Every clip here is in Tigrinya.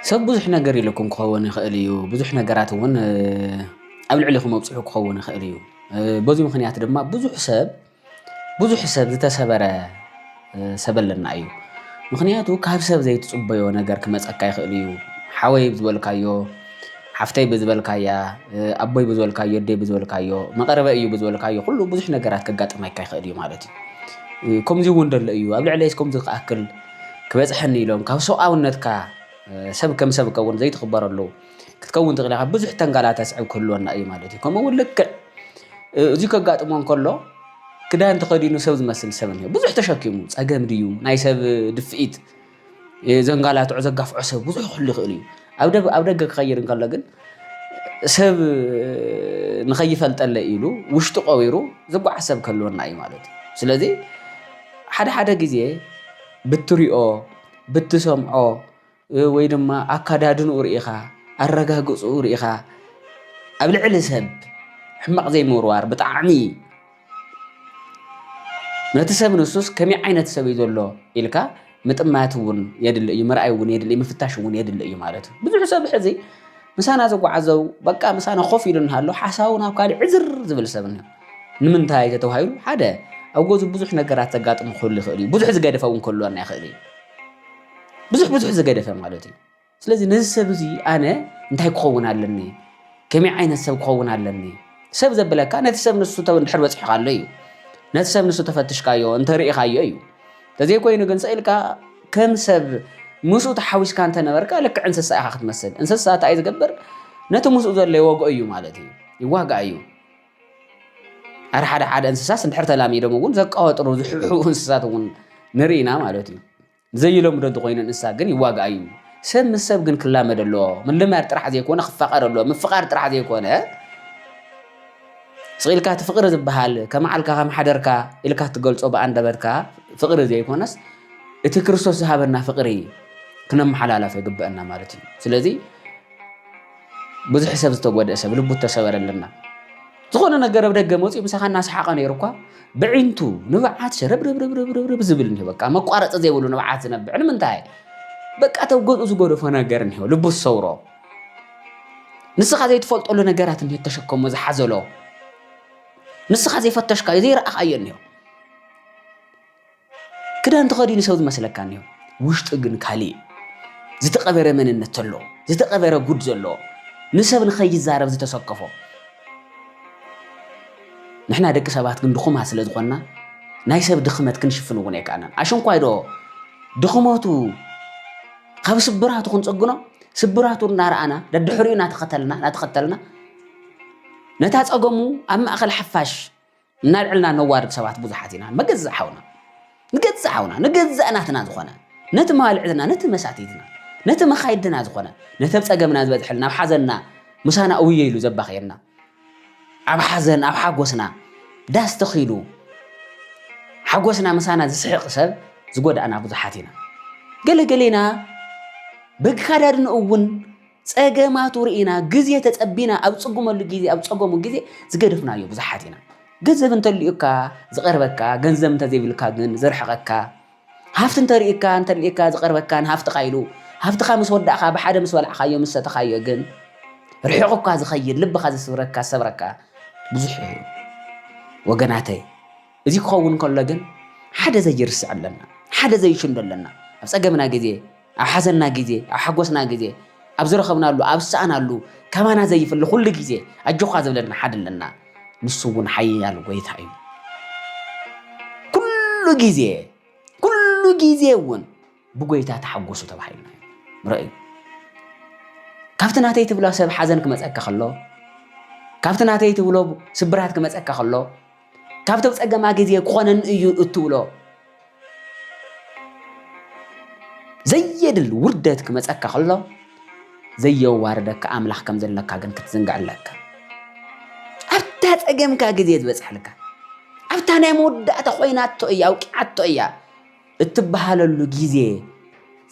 ሰብ ብዙሕ ነገር ኢሉኩም ክኸውን ይኽእል እዩ። ብዙሕ ነገራት እውን ኣብ ልዕሊኹም ኣብፅሑ ክኸውን ይኽእል እዩ። በዚ ምክንያት ድማ ብዙሕ ሰብ ብዙሕ ሰብ ዝተሰበረ ሰብ ኣለና እዩ። ምክንያቱ ካብ ሰብ ዘይትፅበዮ ነገር ክመፀካ ይኽእል እዩ። ሓወይ ዝበልካዮ፣ ሓፍተይ ብዝበልካያ፣ ኣቦይ ብዝበልካዮ፣ ኣደይ ብዝበልካዮ፣ መቐርበይ እዩ ብዝበልካዮ ኩሉ ብዙሕ ነገራት ከጋጥመካ ይኽእል እዩ ማለት እዩ። ከምዚ እውን ደሎ እዩ ኣብ ልዕለይስ ከምዚ ክኣክል ክበጽሐኒ ኢሎም ካብ ሰብኣውነትካ ሰብ ከም ሰብ ከውን ዘይትኽበረሉ ክትከውን ትኽእል ኢኻ ብዙሕ ተንጋላታ ስዕብ ክህልወና እዩ ማለት እዩ ከምኡ እውን ልክዕ እዚ ከጋጥሞ እንከሎ ክዳን ተኸዲኑ ሰብ ዝመስል ሰብ እኒኦ ብዙሕ ተሸኪሙ ፀገም ድዩ ናይ ሰብ ድፍኢት ዘንጋላትዖ ዘጋፍዖ ሰብ ብዙሕ ክህሉ ይኽእል እዩ ኣብ ደገ ክኸይድ እንከሎ ግን ሰብ ንኸይፈልጠለይ ኢሉ ውሽጡ ቀቢሩ ዝጓዓዝ ሰብ ክህልወና እዩ ማለት እዩ። ስለዚ ሓደ ሓደ ግዜ ብትሪኦ ብትሰምዖ ወይ ድማ ኣካዳድንኡ ርኢኻ ኣረጋግፅኡ ርኢኻ ኣብ ልዕሊ ሰብ ሕማቕ ዘይምውርዋር ብጣዕሚ ነቲ ሰብ ንሱስ ከመይ ዓይነት ሰብ እዩ ዘሎ ኢልካ ምጥማት እውን የድሊ እዩ፣ ምርኣይ እውን የድሊ ምፍታሽ እውን የድሊ እዩ ማለት እዩ። ብዙሕ ሰብ ሕዚ ምሳና ዝጓዓዘው በቃ ምሳና ኮፍ ኢሉ እናሃሎ ሓሳቡ ናብ ካልእ ዕዝር ዝብል ሰብ እኒኦ። ንምንታይ ተተባሂሉ ሓደ ኣብ ገዙ ብዙሕ ነገራት ዘጋጥሙ ክህሉ ይኽእል እዩ። ብዙሕ ዝገደፈ እውን ክህልወና ይኽእል እዩ። ብዙሕ ብዙሕ ዝገደፈ ማለት እዩ። ስለዚ ነዚ ሰብ እዚ ኣነ እንታይ ክኸውን ኣለኒ ከመይ ዓይነት ሰብ ክኸውን ኣለኒ ሰብ ዘብለካ ነቲ ሰብ ንሱ ድሕር በፂሕካሉ እዩ ነቲ ሰብ ንሱ ተፈትሽካዮ እንተርእኻዮ እዩ ተዘይኮይኑ ግን ስኢልካ ከም ሰብ ምስኡ ተሓዊስካ እንተነበርካ ልክዕ እንስሳ ኢኻ ክትመስል እንስሳ እንታይ ዝገብር ነቲ ምስኡ ዘሎ ይወግኦ እዩ ማለት እዩ ይዋግኣ እዩ ኣር ሓደ ሓደ እንስሳስ እንድሕር ተላሚዶም እውን ዘቃወጥሩ ዝሕብሕቡ እንስሳት እውን ንርኢና ማለት እዩ ንዘይለምዶ እንተኾይኑ እንስሳ ግን ይዋጋእ እዩ። ሰብ ምስ ሰብ ግን ክላመድ ኣለዎ። ምልማድ ጥራሕ ዘይኮነ ክፋቐር ኣለዎ። ምፍቓር ጥራሕ ዘይኮነ ስቕ ኢልካ እቲ ፍቕሪ ዝበሃል ከመዓልካ ከመሓደርካ ኢልካ እትገልጾ ብኣንደበትካ ፍቕሪ ዘይኮነስ እቲ ክርስቶስ ዝሃበና ፍቕሪ ክነመሓላላፍ ይግበአና ማለት እዩ። ስለዚ ብዙሕ ሰብ ዝተጎድእ ሰብ ልቡ ተሰበረልና ዝኾነ ነገር ኣብ ደገ መፅኡ ምሳኻ እናሰሓቐ ነይሩ እኳ ብዒንቱ ንብዓት ሸረብርብርብርብርብ ዝብል እኒሆ በቃ መቋረፂ ዘይብሉ ንብዓት ዝነብዕ ንምንታይ በቃ ተብ ገዝኡ ዝጎደፎ ነገር እኒሆ ልቡ ዝሰውሮ ንስኻ ዘይትፈልጠሉ ነገራት እኒሆ ተሸከሞ ዝሓዘሎ ንስኻ ዘይፈተሽካዮ ዘይረኣኻዮ እኒሆ ክዳን ተኸዲኑ ሰው ዝመስለካ እኒሆ ውሽጡ ግን ካሊእ እዩ። ዝተቐበረ መንነት ተሎ ዝተቐበረ ጉድ ዘለዎ ንሰብ ንኸይዛረብ ዝተሰከፎ ንሕና ደቂ ሰባት ግን ድኹማት ስለ ዝኾንና ናይ ሰብ ድኽመት ክንሽፍን እውን ኣይከኣልናን ኣሸንኳይ ዶ ድኽመቱ ካብ ስብራቱ ክንፀግኖ ስብራቱ እናረኣና ደድሕሪኡ እናተኸተልና እናተኸተልና ነታ ፀገሙ ኣብ ማእኸል ሓፋሽ እናልዕልና ነዋርድ ሰባት ብዙሓት ኢና መገዛእ ሓውና ንገዛእ ሓውና ንገዛእ ናትና ዝኾነ ነቲ መባልዕትና ነቲ መሳትይትና ነቲ መኻይድና ዝኾነ ነቲ ኣብ ጸገምና ዝበዝሐልና ኣብ ሓዘንና ምሳና እውየ ኢሉ ዘባኽየና ኣብ ሓዘን ኣብ ሓጎስና ዳስ ተኺሉ ሓጎስና ምሳና ዝስሕቕ ሰብ ዝጎዳእና ብዙሓት ኢና ገለገሌና በግካዳድንኡ እውን ጸገማቱ ርኢና ግዜ ተጸቢና ኣብ ጽጉመሉ ግዜ ኣብ ጸገሙ ግዜ ዝገደፍናዮ ብዙሓት ኢና። ገንዘብ እንተልዩካ ዝቐርበካ ገንዘብ እንተዘይብልካ ግን ዘርሕቐካ ሃፍቲ እንተርእካ እንተልዩካ ዝቐርበካን ሃፍትኻ ኢሉ ሃፍትኻ ምስ ወዳእካ ብሓደ ምስ በላዕካዮ ምስ ሰተኻዮ ግን ርሒቑካ ዝኸይድ ልብኻ ዝስብረካ ዝሰብረካ ብዙሕ እዩ ወገናተይ እዚ ክኸውን ከሎ ግን ሓደ ዘይርስዕ ኣለና፣ ሓደ ዘይሽንዶ ኣለና። ኣብ ጸገምና ግዜ፣ ኣብ ሓዘንና ግዜ፣ ኣብ ሓጎስና ግዜ፣ ኣብ ዝረኸብናሉ፣ ኣብ ዝሰኣናሉ ከማና ዘይፍሊ ኩሉ ግዜ ኣጆኻ ዝብለና ሓደ ኣለና። ንሱ እውን ሓያል ጎይታ እዩ። ኩሉ ግዜ ኩሉ ግዜ እውን ብጎይታ ተሓጎሱ ተባሂልና ርእዩ። ካብቲ ናተይ ትብሎ ሰብ ሓዘን ክመፀካ ከሎ ካብቲ ናተይ ትብሎ ስብራት ክመፀካ ከሎ ካብቶም ጸገማ ግዜ ክኾነኒ እዩ እትብሎ ዘየድል ውርደት ክመጸካ ከሎ ዘየዋርደካ ኣምላኽ ከም ዘለካ ግን ክትዝንግዕ ኣለካ ኣብታ ጸገምካ ግዜ ዝበጽሐልካ ኣብታ ናይ መወዳእታ ኮይናቶ እያ ኣውቂዓቶ እያ እትበሃለሉ ግዜ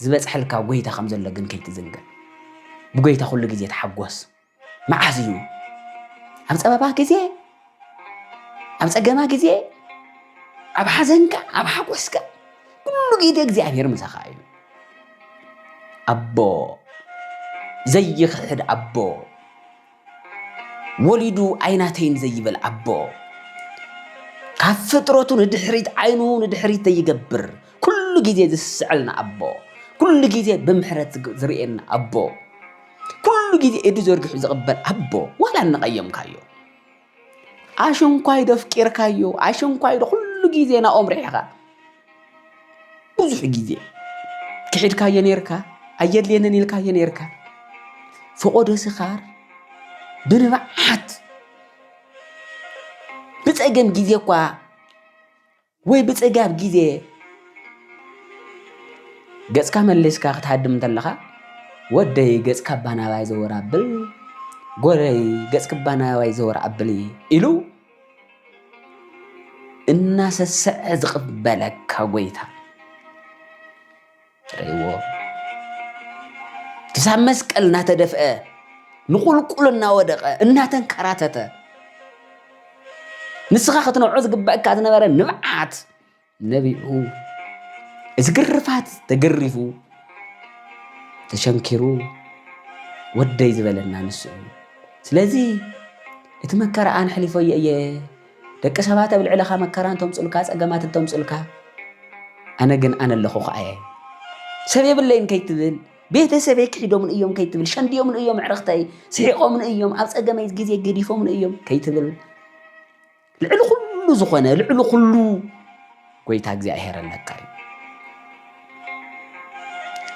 ዝበጽሐልካ ጎይታ ከም ዘሎ ግን ከይትዝንግዕ ብጎይታ ኩሉ ግዜ ተሓጎስ መዓዝ እዩ ኣብ ፀበባ ግዜ ኣብ ፀገማ ግዜ ኣብ ሓዘንካ ኣብ ሓጎስካ ኩሉ ግዜ እግዚኣብሔር ምሳኻ እዩ ኣቦ ዘይኽሕድ ኣቦ ወሊዱ ኣይናተይን ዘይብል ኣቦ ካብ ፍጥረቱ ንድሕሪት ዓይኑ ንድሕሪት ዘይገብር ኩሉ ግዜ ዝስዕልና ኣቦ ኩሉ ግዜ ብምሕረት ዝርእየና ኣቦ ኩሉ ግዜ ኢዱ ዘርጊሑ ዝቕበል ኣቦ ዋላ እንቐየምካዮ ኣሽንኳይዶ ኣፍቂርካዮ ኣሽንኳይዶ ኩሉ ግዜ ናኦም ርሒኻ ብዙሕ ግዜ ክሒድካዮ ነርካ ኣየድልየንን ኢልካዮ ነርካ ፈቆዶ ስኻር ብንብዓት ብፀገም ግዜ እኳ ወይ ብጽጋብ ግዜ ገጽካ መሊስካ ክትሃድም እንተለኻ ወደይ ገጽካ ባናባይ ዘወር ኣብል ጎረይ ገጽክ ባናባይ ዘወር ኣብል ኢሉ እናሰሰዐ ዝቕበለካ ጎይታ ትርእይዎ ክሳብ መስቀል እናተደፍአ ንቁልቁል እናወደቐ እናተንከራተተ ንስኻ ክትነብዖ ዝግበእካ ዝነበረ ንብዓት ነቢዑ እዚ ግርፋት ተገሪፉ ተሸንኪሩ ወደይ ዝበለና ንሱ እዩ። ስለዚ እቲ መከራኣን ሕሊፎ እየ ደቂ ሰባት ኣብ ልዕለኻ መከራ እንተምጹልካ ጸገማት እንተምጹልካ ኣነ ግን ኣነ ኣለኹኻ እየ ሰብ የብለይን ከይትብል ቤተሰበይ ክሒዶምን እዮም ከይትብል ሸንድዮምን እዮም ኣዕርኽተይ ስሒቆምን እዮም ኣብ ጸገመይ ግዜ ገዲፎምን እዮም ከይትብል ልዕሊ ኩሉ ዝኾነ ልዕሊ ኩሉ ጎይታ እግዚኣብሔር ኣለካ እዩ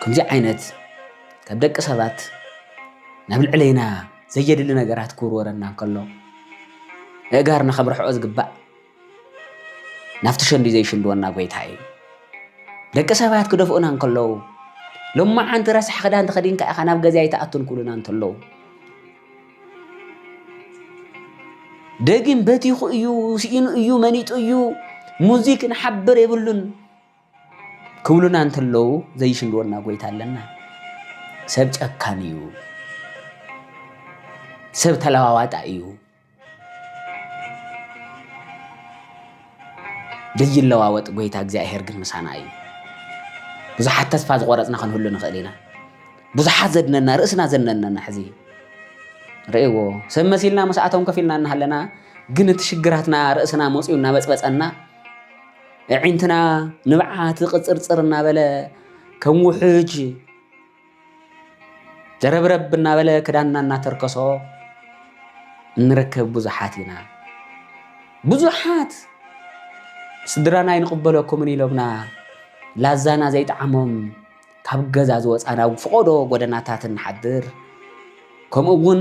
ከምዚ ዓይነት ካብ ደቂ ሰባት ናብ ልዕለይና ዘየድሊ ነገራት ክውርወረና ከሎ ንእጋርና ካብ ርሕኦ ዝግባእ ናብቲ ሸንዲ ዘይሽንድወና ጎይታ እዩ ደቂ ሰባት ክደፍኡና እንከለዉ ሎማዓንቲ ረሳሕ ክዳን ተኸዲንካ ኢኻ ናብ ገዛ ኣይትኣቱን ክብሉና እንተለዉ ደጊም በቲኹ እዩ ስኢኑ እዩ መኒጡ እዩ ሙዚክ ንሓብር የብሉን ክብሉና እንተለዉ ዘይሽንድወና ጎይታ ኣለና ሰብ ጨካን እዩ ሰብ ተለዋዋጣ እዩ ዘይለዋወጥ ጎይታ እግዚኣብሔር ግን ምሳና እዩ ብዙሓት ተስፋ ዝቆረፅና ክንህሉ ንኽእል ኢና ብዙሓት ዘድነና ርእስና ዘነነና ሕዚ ረእዎ ሰብ መሲልና ምስኣቶም ከፍ ኢልና እናሃለና ግን እቲ ሽግራትና ርእስና መፅኡ እናበፅበፀና እዒንትና ንብዓት ቅፅርፅር እናበለ ከም ውሕጅ ደረብረብ እናበለ ክዳንና እናተርከሶ እንርከብ ብዙሓት ኢና። ብዙሓት ስድራና ይንቕበለኩምን ኢሎምና ላዛና ዘይጠዓሞም ካብ ገዛ ዝወጻና ኣብ ፍቖዶ ጎደናታት ንሓድር፣ ከምኡ እውን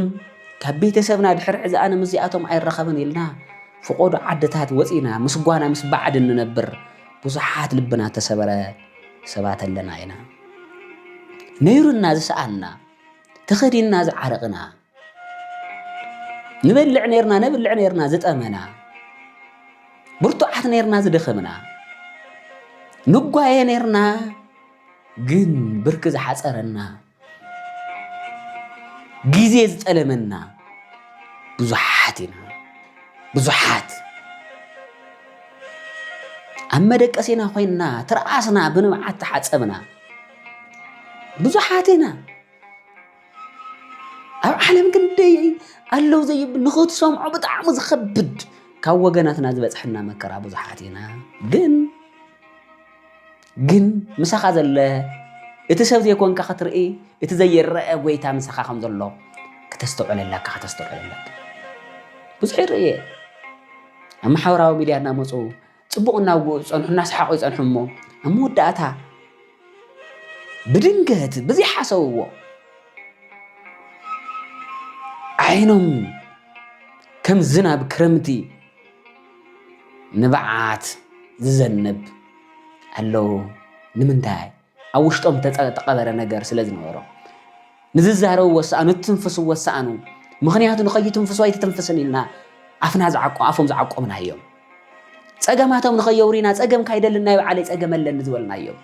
ካብ ቤተሰብና ድሕሪ ሕዚ ኣነ ምስዚኣቶም ኣይራኸብን ኢልና ፍቖዶ ዓድታት ወጺና ምስ ጓና ምስ ባዕዲ ንነብር ብዙሓት ልብና ተሰበረ ሰባት ኣለና ኢና። ነይሩና ዝሰኣንና፣ ተኸዲንና ዝዓረቕና፣ ንበልዕ ነርና ነብልዕ ነርና ዝጠመና ብርቱዓት ነርና ዝደኸምና ንጓየ ነርና ግን ብርኪ ዝሓፀረና ግዜ ዝጠለመና ብዙሓት ኢና ብዙሓት ኣብ መደቀሲና ኮይንና ትርኣስና ብንብዓት ተሓፀብና ብዙሓት ኢና ኣብ ዓለም ክንደይ ኣለው ዘይብል ንኽትሰምዖ ብጣዕሚ ዝኸብድ ካብ ወገናትና ዝበፅሐና መከራ ብዙሓት ኢና ግን ግን ምሳኻ ዘለ እቲ ሰብ ዘይኮንካ ክትርኢ እቲ ዘይረአ ጎይታ ምሳኻ ከም ዘሎ ከተስተውዕል ኣለካ ከተስተውዕል ኣለካ ብዙሕ ይርኢ እየ ኣብ ማሕበራዊ ሚድያ እናመፁ ጽቡቕ እናውግኡ ዝጸንሑ እናሰሓቑ ይጸንሑ እሞ ኣብ መወዳእታ ብድንገት ብዘይሓሰብዎ ዓይኖም ከም ዝናብ ክረምቲ ንብዓት ዝዘንብ ኣለዉ ንምንታይ ኣብ ውሽጦም እተቐበረ ነገር ስለ ዝነበሮ ንዝዛረብዎ ዝሰኣኑ እትንፍስዎ ዝሰኣኑ ምኽንያቱ ንኸይትንፍሱ ኣይትተንፍስን ኢልና ኣፍና ዝዓቆ ኣፎም ዝዓቆምና እዮም ጸገማቶም ንኸየውሪና ጸገም ካይደልን ናይ በዓለይ ጸገም ኣለኒ ዝበልና እዮም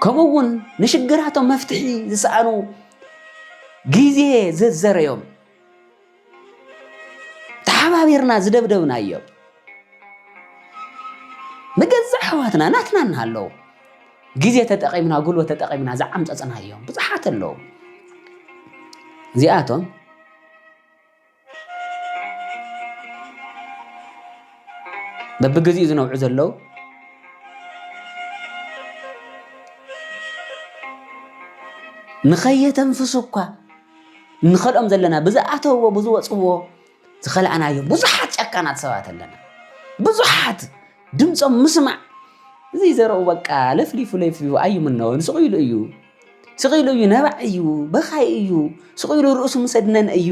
ከምኡ እውን ንሽግራቶም መፍትሒ ዝሰኣኑ ግዜ ዘዘረዮም ተሓባቢርና ዝደብደብናዮም ንገዛእ ኣሕዋትና ናትና እናሃለዉ ግዜ ተጠቒምና ጉልበት ተጠቒምና ዝዓምፀፅናዮም ብዙሓት ኣለዉ እዚኣቶም በብግዜኡ ዝነብዑ ዘለዉ ንኸየተንፍሱ እኳ ንኸልኦም ዘለና ብዝኣተውዎ ብዝወፅዎ ዝኸላእናዮ ብዙሓት ጨካናት ሰባት ኣለና ብዙሓት ድምፆም ምስማዕ እዚ ዘረኡ በቃ ለፍሊፉ ለፍሊፉ ኣይምነዎ ስቕ ኢሉ እዩ ስቕ ኢሉ እዩ ነባዕ እዩ በኻይ እዩ ስቕ ኢሉ ርእሱ ምሰድነን እዩ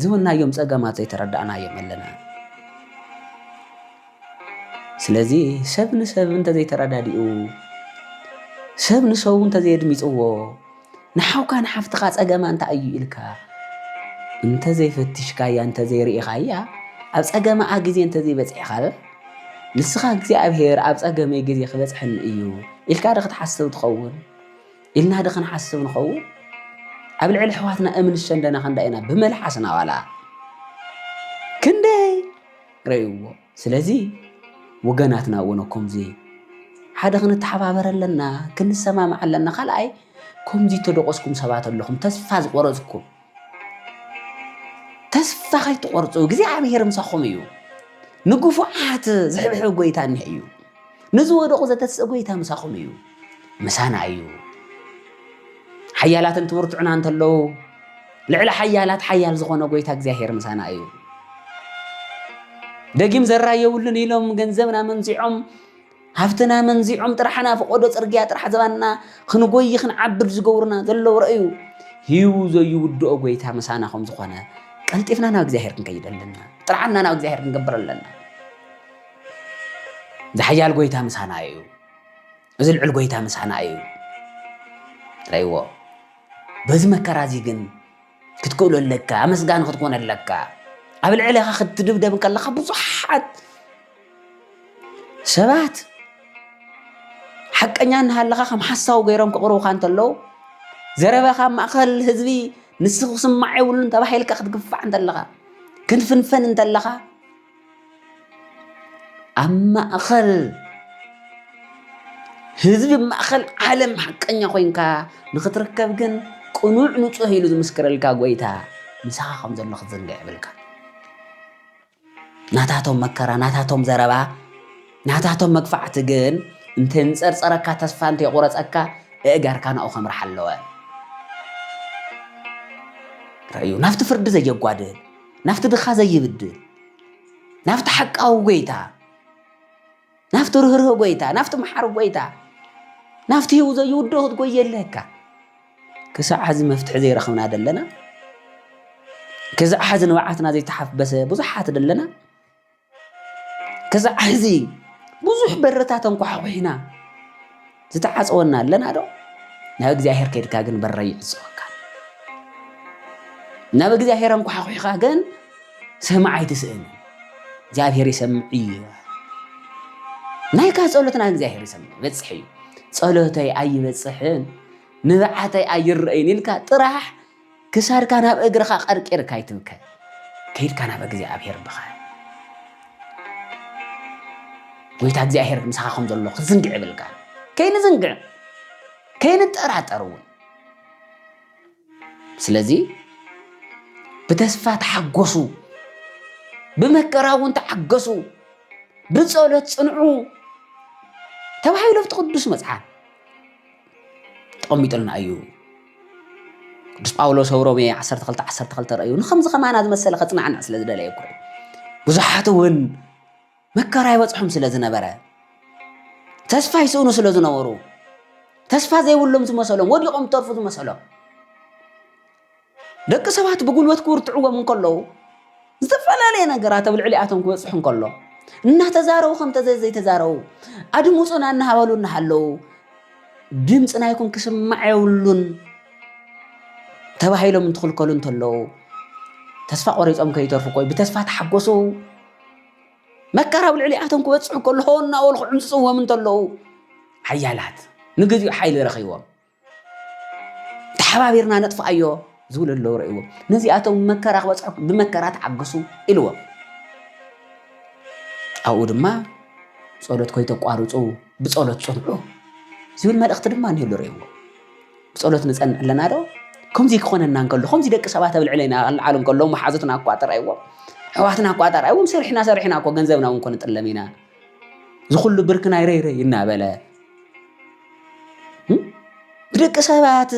ዝብልናዮም ጸገማት ዘይተረዳእናዮም ኣለና። ስለዚ ሰብ ንሰብ እንተዘይተረዳዲኡ፣ ሰብ ንሰቡ እንተዘየድሚጽዎ፣ ንሓውካ ንሓፍትኻ ጸገማ እንታይ እዩ ኢልካ እንተዘይፈትሽካያ እንተዘይርኢኻያ ኣብ ጸገማኣ ግዜ እንተዘይበጽሒኻ ንስኻ እግዚኣብሄር ኣብ ጸገመይ ግዜ ክበጽሐኒ እዩ ኢልካ ዶ ክትሓስብ ትኸውን? ኢልና'ዶ ክንሓስብ ንኸውን? ኣብ ልዕሊ ኣሕዋትና እምን ሸንደና ክንዳ ኢና ብመልሓስና ዋላ ክንደይ ረእይዎ። ስለዚ ወገናትና እውን ከምዚ ሓደ ክንተሓባበር ኣለና፣ ክንሰማማዕ ኣለና። ካልኣይ ከምዚ እተደቆስኩም ሰባት ኣለኹም፣ ተስፋ ዝቆረጽኩም ተስፋ ከይትቆርፁ እግዚኣብሔር ምሳኹም እዩ ንግፉዓት ዝሕብሕብ ጎይታ እኒሀ እዩ ንዝወደቑ ዘተስእ ጎይታ ምሳኹም እዩ ምሳና እዩ ሓያላትን ትብርትዑና እንተለዉ ልዕሊ ሓያላት ሓያል ዝኾነ ጎይታ እግዚኣብሔር ምሳና እዩ ደጊም ዘራየብሉን ኢሎም ገንዘብና መንዚዖም ሃፍትና መንዚዖም ጥራሕ ናብ ፈቖዶ ጽርግያ ጥራሕ ዘባና ክንጎዪ ክንዓብድ ዝገብሩና ዘለዉ ረእዩ ሂቡ ዘይውድኦ ጎይታ ምሳና ከም ዝኾነ ቀልጢፍና ናብ እግዚኣብሔር ክንከይድ ኣለና። ጥርዓና ናብ እግዚኣብሔር ክንገብር ኣለና። ዝሓያል ጎይታ ምሳና እዩ። እዚ ልዑል ጎይታ ምሳና እዩ። ረይዎ በዚ መከራ እዚ ግን ክትክእሎ ኣለካ፣ ኣመስጋኒ ክትኮን ኣለካ። ኣብ ልዕሌኻ ክትድብደብ ከለኻ ብዙሓት ሰባት ሓቀኛ እናሃለኻ ከም ሓሳዊ ገይሮም ክቕርቡኻ እንተለዉ ዘረባኻ ማእኸል ህዝቢ ንሱ ክስማዕ የብሉን ተባሂልካ ክትግፋዕ እንተለኻ ክንፍንፈን እንተለኻ ኣብ ማእኸል ህዝቢ ማእኸል ዓለም ሓቀኛ ኮይንካ ንኽትርከብ ግን ቅኑዕ ንፁህ ኢሉ ዝምስክረልካ ጎይታ ምሳኻ ከም ዘሎ ክትዝንግዕ የብልካ ናታቶም መከራ ናታቶም ዘረባ ናታቶም መግፋዕቲ ግን እንተንፀርፀረካ ተስፋ እንተየቑረፀካ እእጋርካ ናኡ ከምርሓ ኣለወ ረዩ ናብቲ ፍርዲ ዘየጓድል ናብቲ ድኻ ዘይብድል ናብቲ ሓቃዊ ጎይታ ናብቲ ርህርህ ጎይታ ናብቲ መሓሪ ጎይታ ናብቲ ህው ዘይውዶ ክትጎይ የለካ ክሳዕ ሕዚ መፍትሒ ዘይረኽብና ደለና ክሳዕ ሕዚ ንብዓትና ዘይተሓበሰ ብዙሓት ደለና ክሳዕ ሕዚ ብዙሕ በርታት ኣንኳሕኩሕና ዝተዓፀወና ኣለና ዶ? ናብ እግዚኣብሔር ከድካ ግን በረይ ይዕፀወካ ናብ እግዚኣብሔር ኣንኳሓኩሕካ ግን ሰማዕ ኣይትስእን እግዚኣብሔር ይሰምዕ እዩ ናይካ ጸሎት ናብ እግዚኣብሔር ይሰምዕ ይበፅሕ እዩ ጸሎተይ ኣይበፅሕን ንብዓተይ ኣይረአይን ኢልካ ጥራሕ ክሳድካ ናብ እግርኻ ቀርቂርካ ኣይትብከ ከይድካ ናብ እግዚኣብሄር ብኻ ጎይታ እግዚኣብሄር ምሳኻ ከም ዘሎ ክትዝንግዕ ይብልካ ከይንዝንግዕ ከይንጠራጠር እውን ስለዚ ብተስፋ ተሓጎሱ ብመከራ እውን ተዓገሱ ብፀሎት ፅንዑ ተባሂሉ ኣብቲ ቅዱስ መፅሓፍ ተቐሚጡልና እዩ ቅዱስ ጳውሎስ ኣብ ሮሜ 12 12 ረእዩ ንከምዚ ከማና ዝመሰለ ከጽናዕና ስለ ዝደለየ እኮ ብዙሓት እውን መከራ ይበጽሖም ስለ ዝነበረ ተስፋ ይስእኑ ስለ ዝነበሩ ተስፋ ዘይብሎም ዝመሰሎም ወዲቖም ተርፉ ዝመሰሎም ደቂ ሰባት ብጉልበት ክውርትዕዎም እንከለዉ፣ ዝተፈላለየ ነገራት ኣብ ልዕሊኣቶም ክበጽሑ እንከሎ፣ እናተዛረቡ ከም ተዘይ ዘይተዛረቡ፣ ኣድምጹና እናበሉ እናሃለዉ፣ ድምጺ ናይኩም ክስማዕ የብሉን ተባሂሎም እንትኽልከሉ እንተለዉ፣ ተስፋ ቆሪጾም ከይተርፉ ኮይ ብተስፋ ተሓጎሱ መከራ ኣብ ልዕሊኣቶም ክበጽሑ ከሎ ሆ እናበሉ ክዕምጽጽዎም እንተለዉ፣ ሓያላት ንግዚኡ ሓይሊ ረኺቦም ተሓባቢርና ነጥፍኣዮ ዝብሉ ኣለዉ ረእዎ ነዚኣቶም መከራ ክበፅሐኩም ብመከራ ተዓግሱ ኢልዎ ኣብኡ ድማ ፀሎት ኮይተቋርፁ ብፀሎት ፅንዑ ዝብል መልእኽቲ ድማ እኒህሉ ረእዎ ብፀሎት ንፀንዕ ኣለና ዶ ከምዚ ክኾነና እንከሎ ከምዚ ደቂ ሰባት ኣብ ልዕለና ክልዓሉ እንከሎ መሓዙትና እኳ ጥራይዎም ኣሕዋትና እኳ ጥራይዎም ሰሪሕና ሰሪሕና እኮ ገንዘብና እውን ኮንጥለም ኢና ዝኩሉ ብርክና ይረይረይ እናበለ ብደቂ ሰባት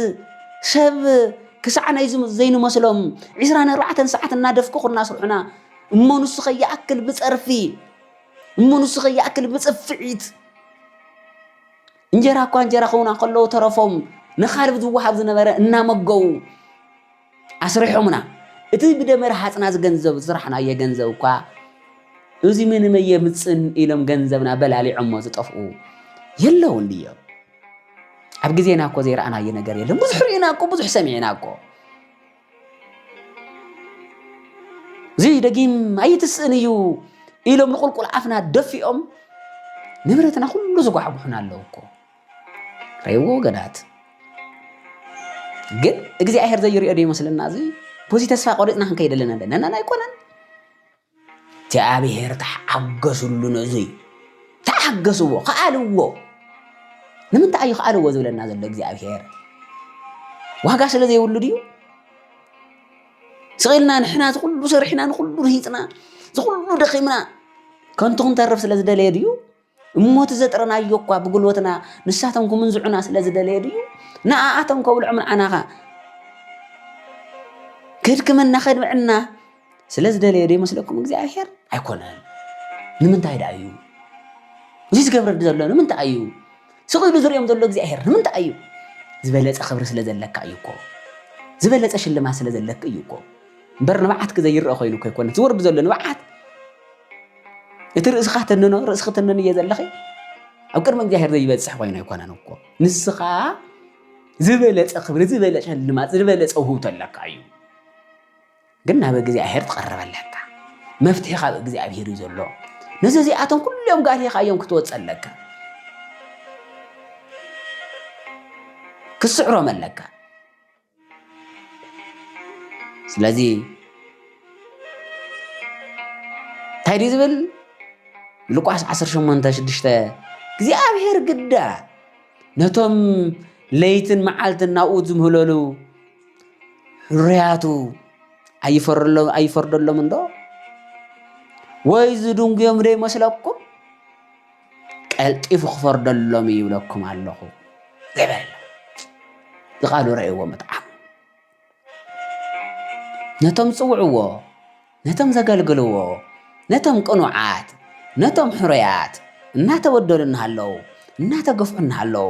ሰብ ክሳዕ ናይ ዘይንመስሎም ዕስራን ኣርባዕተን ሰዓት እናደፍቅኹ እናስርሑና እሞ ንሱ ከይኣክል ብፀርፊ እሞ ንሱ ከይኣክል ብፅፍዒት እንጀራ እኳ እንጀራ ክውና ከለዉ ተረፎም ንካልብ ዝወሃብ ዝነበረ እናመገቡ ኣስሪሖሙና እቲ ብደመ ረሃጽና ዝገንዘብ ዝስራሕናዮ ገንዘብ እኳ እዚ ምንመይ የምጽን ኢሎም ገንዘብና በላሊዖሞ ዝጠፍኡ የለውን ድዮም? ኣብ ግዜና እኮ ዘይረኣናዮ ነገር የለን። ብዙሕ ርኢና እኮ ብዙሕ ሰሚዕና እኮ እዚ ደጊም ኣይትስእን እዩ ኢሎም ንቁልቁል ኣፍና ደፊኦም ንብረትና ኩሉ ዝጓሕጉሑና ኣለዉ እኮ ሬዎ ገዳት ግን እግዚኣብሔር ዘይሪኦ ዶ ይመስለና እዚ ብዙ ተስፋ ቆሪፅና ክንከይድ ኣለና ኣለና ኣይኮነን እግዚኣብሔር ተሓገሱሉ ነዙይ ተሓገስዎ ከኣልዎ ንምንታይ እዩ ከኣልዎ ዝብለና ዘሎ እግዚኣብሔር ዋጋ ስለ ዘይብሉ ድዩ ስቂልና ንሕና ዝኩሉ ሰሪሕና ንኩሉ ርሂፅና ዝኩሉ ደኺምና ከንቱ ክንተርፍ ስለ ዝደለየ ድዩ እሞ እቲ ዘጥረናዮ እኳ ብጉልበትና ንሳቶም ክምንዝዑና ስለ ዝደለየ ድዩ ንኣኣቶም ከብልዖም ንዓናኻ ክድክመና ከድምዕና ስለ ዝደለየ ዶ ይመስለኩም እግዚኣብሔር ኣይኮነን ንምንታይ ደኣ እዩ እዚ ዝገብረ ዘሎ ንምንታይ እዩ ስቂሉ ዝሪኦም ዘሎ እግዚኣብሔር ንምንታይ እዩ ዝበለፀ ክብሪ ስለ ዘለካ እዩ እኮ ዝበለፀ ሽልማት ስለ ዘለክ እዩ እኮ እምበር ንብዓትክ ዘይረአ ኮይኑ ከይኮነ ዝወርድ ዘሎ ንብዓት እቲ ርእስኻ ተንኖ ርእስኺ ተንኖ እየ ዘለኺ ኣብ ቅድሚ እግዚኣብሔር ዘይበፅሕ ኮይኑ ኣይኮነን እኮ ንስኻ ዝበለፀ ክብሪ ዝበለፀ ልማት ዝበለፀ ውህብቶ ኣለካ እዩ ግን ናብ እግዚኣብሔር ትቐርብ ኣለካ መፍትሒ ካብ እግዚኣብሔር እዩ ዘሎ ነዚ እዚኣቶም ኩሎም ጋርሒኻ እዮም ክትወፅ ኣለካ ክትስዕሮም ኣለካ ስለዚ እንታይ ድዩ ዝብል ሉቃስ 18 ሽዱሽተ እግዚኣብሔር ግዳ ነቶም ለይትን መዓልትን ናብኡ ዝምህለሉ ሕርያቱ ኣይፈርደሎም እንዶ ወይ ዝድንጉዮም ዘይመስለኩም ቀልጢፉ ክፈርደሎም እዩ ይብለኩም ኣለኹ ዝበለ ዝቓሉ ረእይዎ ምጥዓም ነቶም ጽውዕዎ ነቶም ዘገልግልዎ ነቶም ቅኑዓት ነቶም ሕሩያት እናተበደሉ እናሃለዉ እናተገፍዑ እናሃለዉ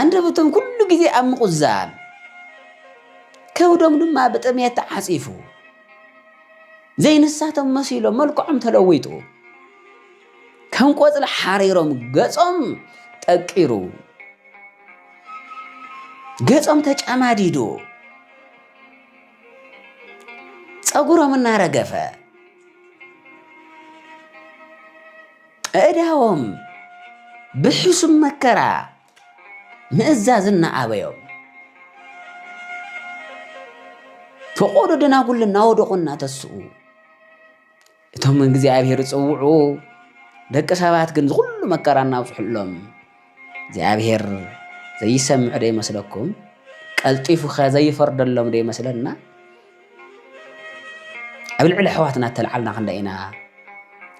ኣንደበቶም ኩሉ ግዜ ኣብ ምቑዛም፣ ከብዶም ድማ ብጥምየት ተዓጺፉ፣ ዘይንሳቶም መሲሎም መልክዖም ተለዊጡ፣ ከም ቆጽሊ ሓሪሮም ገጾም ጠቂሩ፣ ገጾም ተጨማዲዱ፣ ጸጉሮም እናረገፈ ኣእዳዎም ብሕሱም መከራ ምእዛዝ እናኣበዮም ፈቖዶ ደናጉል እናወደቑ እናተስኡ እቶም እግዚኣብሔር ዝፅውዑ ደቂ ሰባት ግን ዝኹሉ መከራ እናብፅሑሎም እግዚኣብሔር ዘይሰምዕ ዶ ይመስለኩም? ቀልጢፉኸ ዘይፈርደሎም ዶ ይመስለና? ኣብ ልዕሊ ኣሕዋትና እተልዓልና ክንደይ ኢና?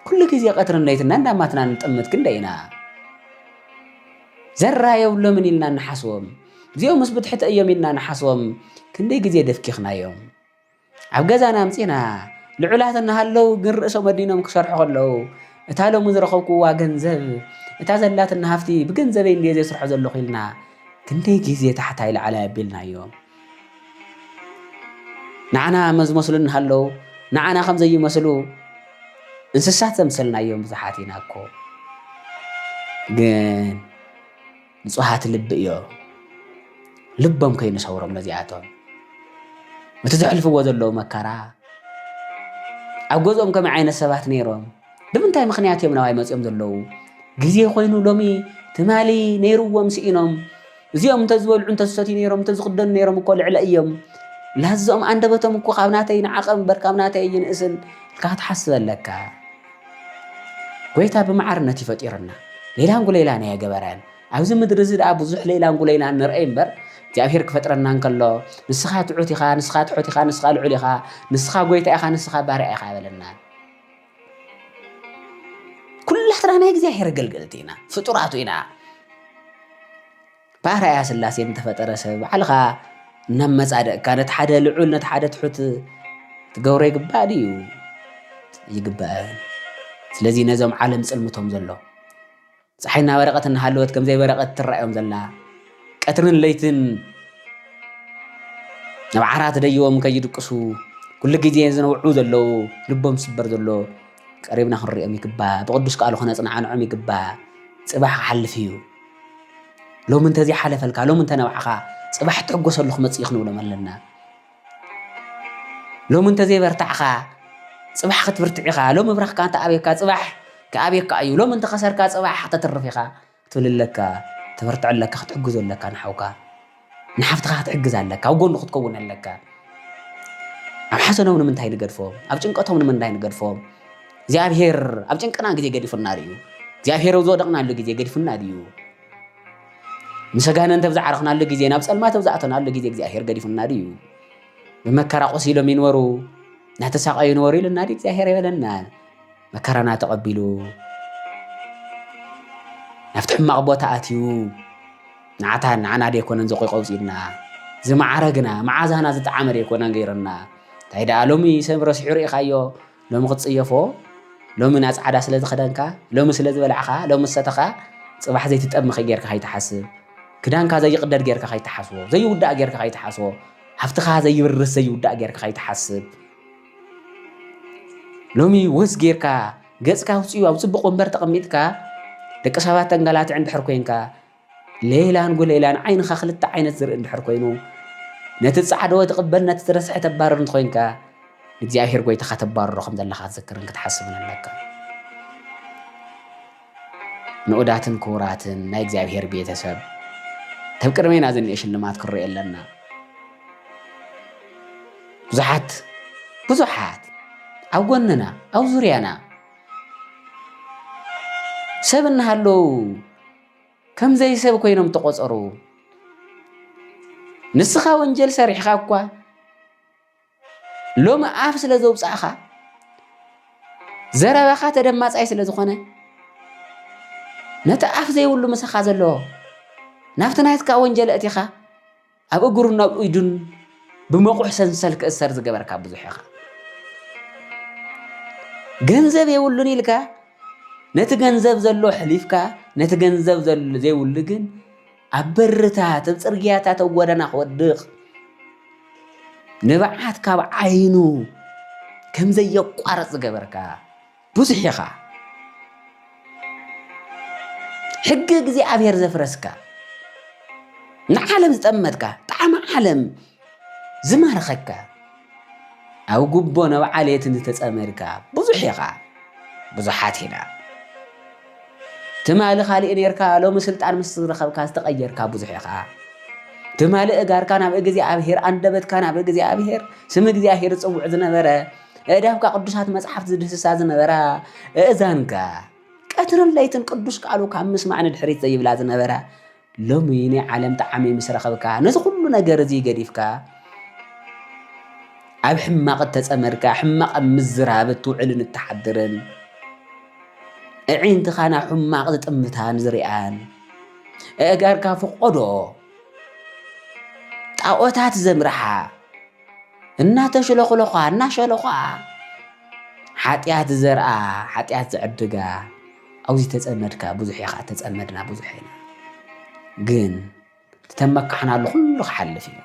ኩሉ ግዜ ቀትርን ለይትና እንዳማትና ንጥምት ክንደይ ኢና ዘራ የብሎምን ኢልና ንሓስቦም እዚኦም ምስ ብትሕቲ እዮም ኢልና ንሓስቦም ክንደይ ግዜ ደፍኪኽናዮም ኣብ ገዛና ኣምጺና ልዑላት እናሃለው ግን ርእሶም ኣዲኖም ክሰርሑ ከለው እታ ሎሚ ዝረኸብኩዋ ገንዘብ እታ ዘላትና ሃፍቲ ብገንዘበይ እንድየ ዘስርሖ ዘለኹ ኢልና ክንደይ ግዜ ታሕታይ ላዕላይ ኣቢልናዮ ንዓና መዝመስሉ እናሃለው ንዓና ከም ዘይመስሉ እንስሳት ዘምሰልናዮም ብዙሓት ኢና እኮ ግን ንጹሃት ልቢ እዮ ልቦም ከይንሰውሮም ነዚኣቶም እቲ ዘሕልፍዎ ዘለዉ መከራ ኣብ ገዝኦም ከመይ ዓይነት ሰባት ነይሮም ብምንታይ ምክንያት እዮም ናባይ መፅኦም ዘለዉ ግዜ ኮይኑ ሎሚ ትማሊ ነይርዎም ስኢኖም እዚኦም እንተዝበልዑ እንተዝሰትዩ ነይሮም እንተዝኽደኑ ነይሮም እኮ ልዕለ እዮም ላዝኦም ኣንደበቶም እኮ ካብ ናተይ ንዓቐ እምበር ካብ ናተይ ይንእስን ኢልካ ክትሓስብ ኣለካ ጐይታ ብማዕርነት እዩ ፈጢሩና ሌላንጉሌላን ኣየገበረን ኣብዚ ምድሪ እዚ ደኣ ብዙሕ ሌላንጉሌላን ንርአይ እምበር እግዚኣብሔር ክፈጥረና እንከሎ ንስኻ ትሑት ኢኻ ንስኻ ትሑት ኢኻ ንስኻ ልዑል ኢኻ ንስኻ ጐይታ ኢኻ ንስኻ ባርያ ኢኻ በለና ኩላትና ናይ እግዚኣብሔር ኣገልገልቲ ኢና ፍጡራቱ ኢና ብኣርኣያ ስላሴ ንተፈጠረ ሰብ ባዕልኻ ናብ መጻደቕካ ነቲ ሓደ ልዑል ነቲ ሓደ ትሑት ትገብሮ ይግባእ ድዩ ይግባእ ስለዚ ነዞም ዓለም ጽልምቶም ዘሎ ፀሓይ እናበረቐት እናሃለወት ከም ዘይበረቐት ትረኣዮም ዘላ ቀትርን ለይትን ናብ ዓራት ደይቦም ከይድቅሱ ኩሉ ግዜ ዝነውዑ ዘለዉ ልቦም ዝስበር ዘሎ ቀሪብና ክንሪኦም ይግባእ ብቅዱስ ቃሉ ክነፅናዕንዖም ይግባእ ፅባሕ ክሓልፍ እዩ ሎሚ እንተዘይሓለፈልካ ሎሚ እንተነባዕኻ ፅባሕ ትሕጎሰሉ ክመፅእ እዩ ክንብሎም ኣለና ሎሚ እንተዘይበርታዕኻ ፅባሕ ክትብርትዕ ኢኻ ሎሚ እብራኽካ እንተኣብየካ ፅባሕ ክኣብየካ እዩ ሎሚ እንተኸሰርካ ፅባሕ ክተትርፍ ኢኻ ክትብል ኣለካ ተበርትዕ ኣለካ ክትሕግዞ ኣለካ ንሓውካ ንሓፍትኻ ክትሕግዝ ኣለካ፣ ኣብ ጎኑ ክትከውን ኣለካ። ኣብ ሓዘኖም ንምንታይ ንገድፎም? ኣብ ጭንቀቶም ንምንታይ ንገድፎም? እግዚኣብሄር ኣብ ጭንቅና ግዜ ገዲፉና ድዩ? እግዚኣብሄር ኣብ ዝወደቕናሉ ግዜ ገዲፉና ድዩ? ምስ ኣጋንንቲ ኣብ ዝዓረኽናሉ ግዜ ናብ ጸልማት ኣብ ዝኣተናሉ ግዜ እግዚኣብሄር ገዲፉና ድዩ? ብመከራ ቆሲሎም ይንበሩ እናተሳቐዩ ይንበሩ ኢሉና ድዩ እግዚኣብሄር የበለና? መከራና ተቐቢሉ ናብቲ ሕማቕ ቦታ ኣትዩ ንዓታ ንዓና ደይኮነን ዘቆይቆውፂልና ዝመዓረግና መዓዛና ዝጠዓመ ደይኮነን ገይሩና እንታይ ደኣ ሎሚ ሰብ ረሲሑ ርኢኻዮ ሎሚ ክትፅየፎ ሎሚ ናብ ፃዕዳ ስለ ዝኸደንካ ሎሚ ስለ ዝበላዕኻ ሎሚ ዝሰተኻ ፅባሕ ዘይትጠምኺ ጌርካ ከይትሓስብ ክዳንካ ዘይቕደድ ጌርካ ከይትሓስቦ ዘይውዳእ ጌርካ ከይትሓስቦ ሃፍትኻ ዘይብርስ ዘይውዳእ ጌርካ ከይትሓስብ ሎሚ ውህስ ጌርካ ገጽካ ውጽኡ ኣብ ጽቡቕ ወንበር ተቐሚጥካ ደቂ ሰባት ተንገላትዕ እንድሕር ኮንካ ሌላን ጉሌላን ዓይንኻ ክልተ ዓይነት ዝርኢ እንድሕር ኮይኑ ነቲ ጻዕደወ ትቕበል ነቲ ትረስሐ ተባርር እንተኮይንካ እግዚኣብሔር ጎይታኻ ተባርሮ ከም ዘለኻ ክትዝክርን ክትሓስብን ኣለካ ንኡዳትን ክቡራትን ናይ እግዚኣብሔር ቤተ ሰብ ከብ ቅድሜና ዝኒኤ ሽልማት ክንሪኦ ኣለና ብዙሓት ብዙሓት ኣብ ጎንና ኣብ ዙርያና ሰብ እናሃለዉ ከምዘይ ሰብ ኮይኖም ተቆፀሩ። ንስኻ ወንጀል ሰሪሕኻ እኳ ሎሚ ኣፍ ስለ ዘውጻእኻ ዘረባኻ ተደማጻይ ስለ ዝኾነ ነቲ ኣፍ ዘይብሉ ምሳኻ ዘለዎ ናብቲ ናትካ ወንጀል እቲኻ ኣብ እግሩን ናብ ኢዱን ብመቑሕ ሰንሰል ክእሰር ዝገበርካ ብዙሕ ኢኻ ገንዘብ የብሉን ኢልካ ነቲ ገንዘብ ዘሎ ሕሊፍካ ነቲ ገንዘብ ዘይብሉ ግን ኣብ በርታት ኣብ ጽርግያታት ኣብ ጎደና ክወድቕ ንብዓት ካብ ዓይኑ ከም ዘየቋርጽ ዝገበርካ ብዙሕ ኢኻ ሕጊ እግዚኣብሔር ዘፍረስካ ንዓለም ዝጠመትካ ጣዕሚ ዓለም ዝማረኸካ ኣብ ጉቦ ናብ ዓሌት እንተተጸመድካ ብዙሕ ኢኻ ብዙሓት ኢና ትማሊ ካልእ ኔርካ ሎሚ ስልጣን ምስ ዝረኸብካ ዝተቐየርካ ብዙሕ ኢኻ ትማሊ እጋርካ ናብ እግዚኣብሔር ኣንደበትካ ናብ እግዚኣብሔር ስም እግዚኣብሔር ዝጽውዕ ዝነበረ እዳብካ ቅዱሳት መጽሓፍቲ ዝድህስሳ ዝነበራ እእዛንካ ቀትርን ለይትን ቅዱስ ቃሉ ካብ ምስማዕ ንድሕሪት ዘይብላ ዝነበራ ሎሚ ናይ ዓለም ጣዕሚ ምስ ረኸብካ ነዚ ኩሉ ነገር እዚ ገዲፍካ ኣብ ሕማቕ እተጸመድካ ሕማቕ ኣብ ምዝራብ እትውዕልን እትሓድርን እዒንትኻ ናብ ሕማቕ ዝጥምታን ዝርኣን ኣእጋርካ ፍቆዶ ጣዖታት ዘምርሓ እናተሽለኹለዃ እናሸለዃ ሓጢኣት ዘርኣ ሓጢኣት ዝዕድጋ ኣብዚ ተጸመድካ ብዙሕ ኢኻ ተጸመድና ብዙሕ ኢና ግን ተመካሕናሉ ኩሉ ክሓልፍ እዩ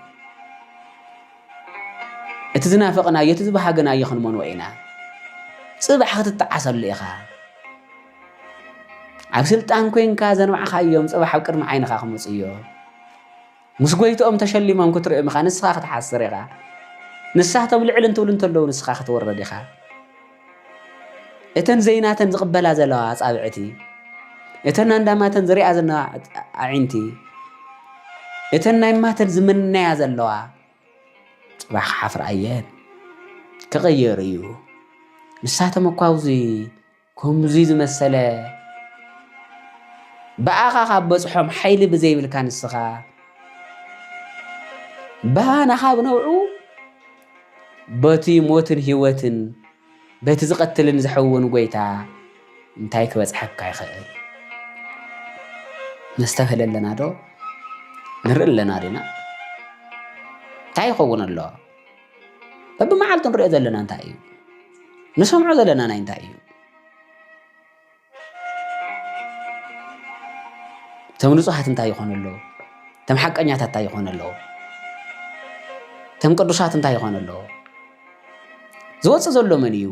እቲ ዝናፈቕናዮ እቲ ዝበሃግናዮ ክንመንዎ ኢና ጽባሕ ክትጠዓሰሉ ኢኻ ኣብ ስልጣን ኮንካ ዘንባዕኻዮም ጽባሕ ኣብ ቅድሚ ዓይንኻ ክመፁ እዮ ምስ ጎይትኦም ተሸሊሞም ክትርእም ኢኻ ንስኻ ክትሓስር ኢኻ ንሳቶም ልዕል እንትብሉ እንተለዉ ንስኻ ክትውረድ ኢኻ እተን ዘይናተን ዝቕበላ ዘለዋ ኣጻብዕቲ እተን ኣንዳማተን ዝሪኣ ዘለዋ ኣዒንቲ እተን ናይ ማተን ዝምነያ ዘለዋ ጽባሕ ክሓፍራ እየን ክቕየር እዩ ንሳቶም እኳ ኣብዚ ከምዙይ ዝመሰለ ብኣኻ ካብ በጽሖም ሓይሊ ብዘይብልካ ንስኻ ባና ካብ ነውዑ በቲ ሞትን ህይወትን በቲ ዝቐትልን ዝሕውን ጎይታ እንታይ ክበጽሐካ ይኽእል? ነስተብህለ ኣለና ዶ ንርኢ ኣለና ዲና እንታይ ይኸውን ኣሎ በብመዓልቱ ንሪኦ ዘለና እንታይ እዩ ንሰምዖ ዘለና ናይ እንታይ እዩ እቶም ንጹሃት እንታይ ይኾኑ ኣለዉ እቶም ሓቀኛታት እንታይ ይኾኑ ኣለዉ እቶም ቅዱሳት እንታይ ይኾኑ ኣለዉ ዝወፅእ ዘሎ መን እዩ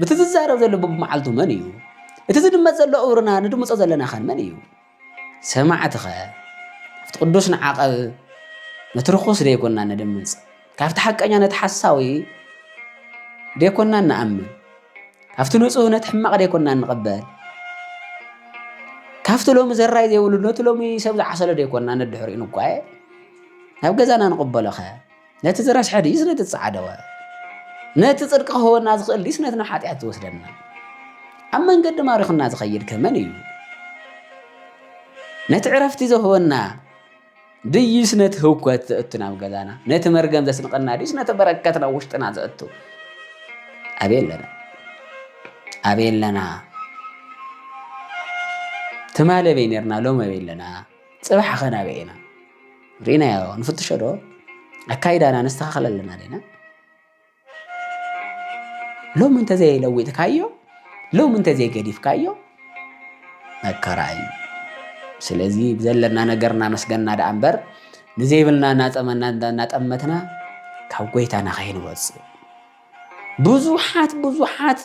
ብቲ ዝዛረብ ዘሎ ብብመዓልቱ መን እዩ? እቲ ዝድመፅ ዘሎ እውርና ንድምፆ ዘለና ኸን መን እዩ? ሰማዕትኸ ኣብቲ ቅዱስ ንዓቐብ ነቲ ርኹስ ደይኮና ንድምፅ ካብቲ ሓቀኛ ነቲ ሓሳዊ ደይኮና ንኣምን ካብቲ ንፁህ ነቲ ሕማቕ ደይኮና ንቕበል ካብቲ ሎሚ ዘራይ ዘይብሉ ነቲ ሎሚ ሰብ ዝዓሰለ ደይኮና ነድሕሪኡ ንጓየ ናብ ገዛና ንቕበሎኸ ነቲ ዝረስሐ ድዩስ ነቲ ዝጸዓደወ ነቲ ጽድቂ ክህበና ዝኽእል ድዩስ ነቲ ንሓጢኣት ዝወስደና ኣብ መንገዲ ማሪኹና ዝኸይድ ከመን እዩ ነቲ ዕረፍቲ ዝህበና ድዩስ ነቲ ህውከት ዘእቱ ናብ ገዛና ነቲ መርገም ዘስንቀና ድዩስ ነቲ በረከት ናብ ውሽጥና ዘእቱ ኣበይ ኣለና ኣበይ ኣለና ትማሊ ኣበይ ነርና ሎም ኣበይ ኣለና ፅባሕ ኸ ናበይ ኢና ርኢናዮ ንፍትሾ ዶ ኣካይዳና ነስተኻኽል ኣለና ዲና ሎሚ እንተዘይለዊጥካዮ ሎሚ እንተዘይገዲፍካዮ መከራ እዩ ስለዚ ብዘለና ነገር እናመስገና ደኣ እምበር ንዘይብልና እናጠመና እናጠመትና ካብ ጎይታና ከይንወፅእ ብዙሓት ብዙሓት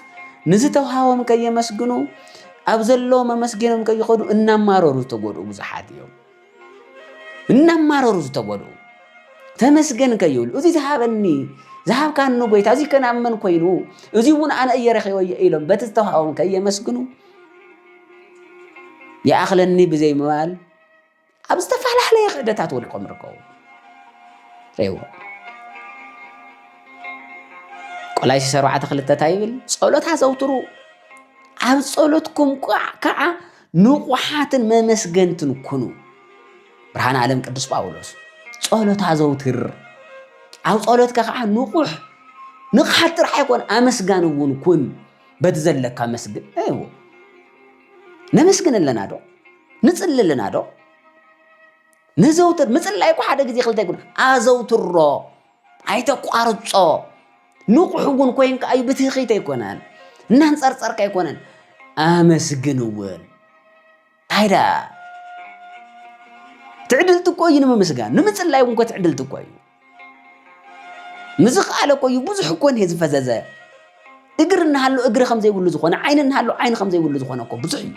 ንዝተውሃቦም ከየመስግኑ ኣብ ዘለዎም ኣመስጊኖም ከይኸዱ እናማረሩ ዝተጎድኡ ብዙሓት እዮም እናማረሩ ዝተጎድኡ ተመስገን ከይብሉ እዚ ዝሃበኒ ዝሃብካኒ ጎይታ እዚ ከናመን ኮይኑ እዚ እውን ኣነ እየ ረኺበዮ ኢሎም በቲ ዝተውሃቦም ከየመስግኑ ይኣኽለኒ ብዘይ ምባል ኣብ ዝተፈላለየ ክእደታት ወድቆም ይርከቡ ሬዎ ቆላይሲ ሰርዓተ ክልተ እንታይ ይብል ጸሎት ኣዘውትሩ ኣብ ጸሎትኩም ከዓ ንቑሓትን መመስገንትን ኩኑ ብርሃን ዓለም ቅዱስ ጳውሎስ ጸሎት ኣዘውትር ኣብ ጸሎትካ ከዓ ንቑሕ ንቕሓት ጥራሕ ኣይኮነ ኣመስጋን እውን ኩን በቲ ዘለካ መስግን ነመስግን ኣለና ዶ ንጽሊ ኣለና ዶ ነዘውትር ምጽላይ እኮ ሓደ ግዜ ክልተ ይኩን ኣዘውትሮ ኣይተቋርጾ ንቑሕ እውን ኮይንካ እዩ ብትኺት ኣይኮነን እናንፀርፀርካ ኣይኮነን ኣመስግን እውን ኣይዳ ትዕድልቲ እኮ እዩ ንምምስጋን ንምፅላይ እውን እኮ ትዕድልቲ እኮ እዩ ምዝኸኣለ እኮ እዩ ብዙሕ እኮ እኒሀ ዝፈዘዘ እግር እናሃሎ እግሪ ከም ዘይብሉ ዝኾነ ዓይኒ እናሃሎ ዓይኒ ከም ዘይብሉ ዝኾነ እኮ ብዙሕ እዩ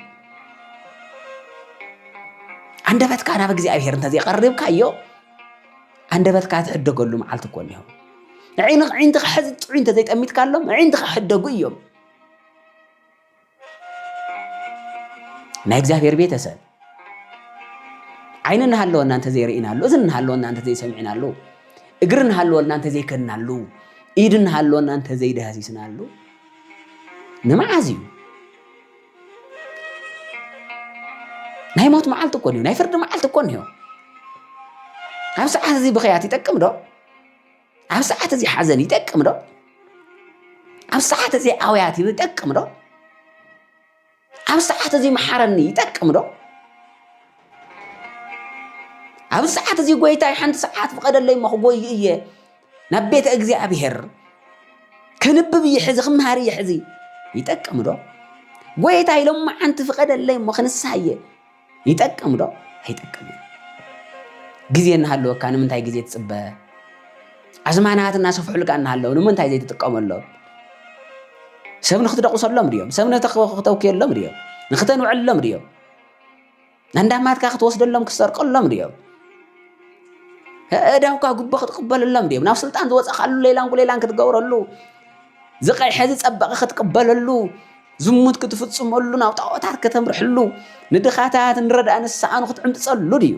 ኣንደበትካ ናብ እግዚኣብሔር እንተዘይቀሪብካዮ ኣንደበትካ ትሕደገሉ መዓልቲ እኮ እኒሆ ንዒንኻ ሕዚ ጥዑይ እንተዘይጠሚትካሎም ዒንትኻ ሕደጉ እዮም ናይ እግዚኣብሔር ቤተሰብ ዓይኒ እናሃለወና እንተዘይርኢናሉ፣ እዝኒ እናሃለወና እንተዘይሰሚዕናሉ፣ እግሪ እናሃለወልና እንተዘይከድናሉ፣ ኢድ እናሃለወና እንተዘይዳህሲስናሉ ንመዓዝ እዩ? ናይ ሞት መዓልቲ እኮ እዩ፣ ናይ ፍርዲ መዓልቲ እኮ እዩ። ኣብ ሰዓት እዚ ብኸያት ይጠቅም ዶ? ኣብ ሰዓት እዚ ሓዘን ይጠቅም ዶ? ኣብ ሰዓት እዚ ኣውያት ይጠቅም ዶ? ኣብ ሰዓት እዚ መሓረኒ ይጠቅም ዶ? ኣብ ሰዓት እዚ ጎይታይ ሓንቲ ሰዓት ፍቐደለይ እሞ ክጎይ እየ ናብ ቤተ እግዚኣብሔር ክንብብ እየ ሕዚ ክምሃር እየ ሕዚ ይጠቅም ዶ? ጎይታይ ሎማዓንቲ ፍቐደለይ እሞ ክንስሃ እየ ይጠቅም ዶ ኣይጠቅምን? ግዜ እናሃለወካ ንምንታይ ግዜ ትፅበ? ኣዝማናት እናሰፍሑልካ እናሃለዉ ንምንታይ ዘይትጥቀመሎም? ሰብ ንክትደቑሰሎም ድዮም? ሰብ ንክተውክየሎም ድዮም? ንክተንውዕሎም ድዮም? ናንዳማትካ ክትወስደሎም ክትሰርቀሎም ድዮም? እዳውካ ጉቦ ክትቅበለሎም ድዮም? ናብ ስልጣን ዝወፀኻሉ ሌላን ጉሌላን ክትገብረሉ ዝቐይሐ ዝፀበቐ ክትቅበለሉ ዝሙት ክትፍጽመሉ ናብ ጣዖታት ከተምርሕሉ ንድኻታት ንረዳእ ንስሓኑ ክትዕምብጸሉ ድዩ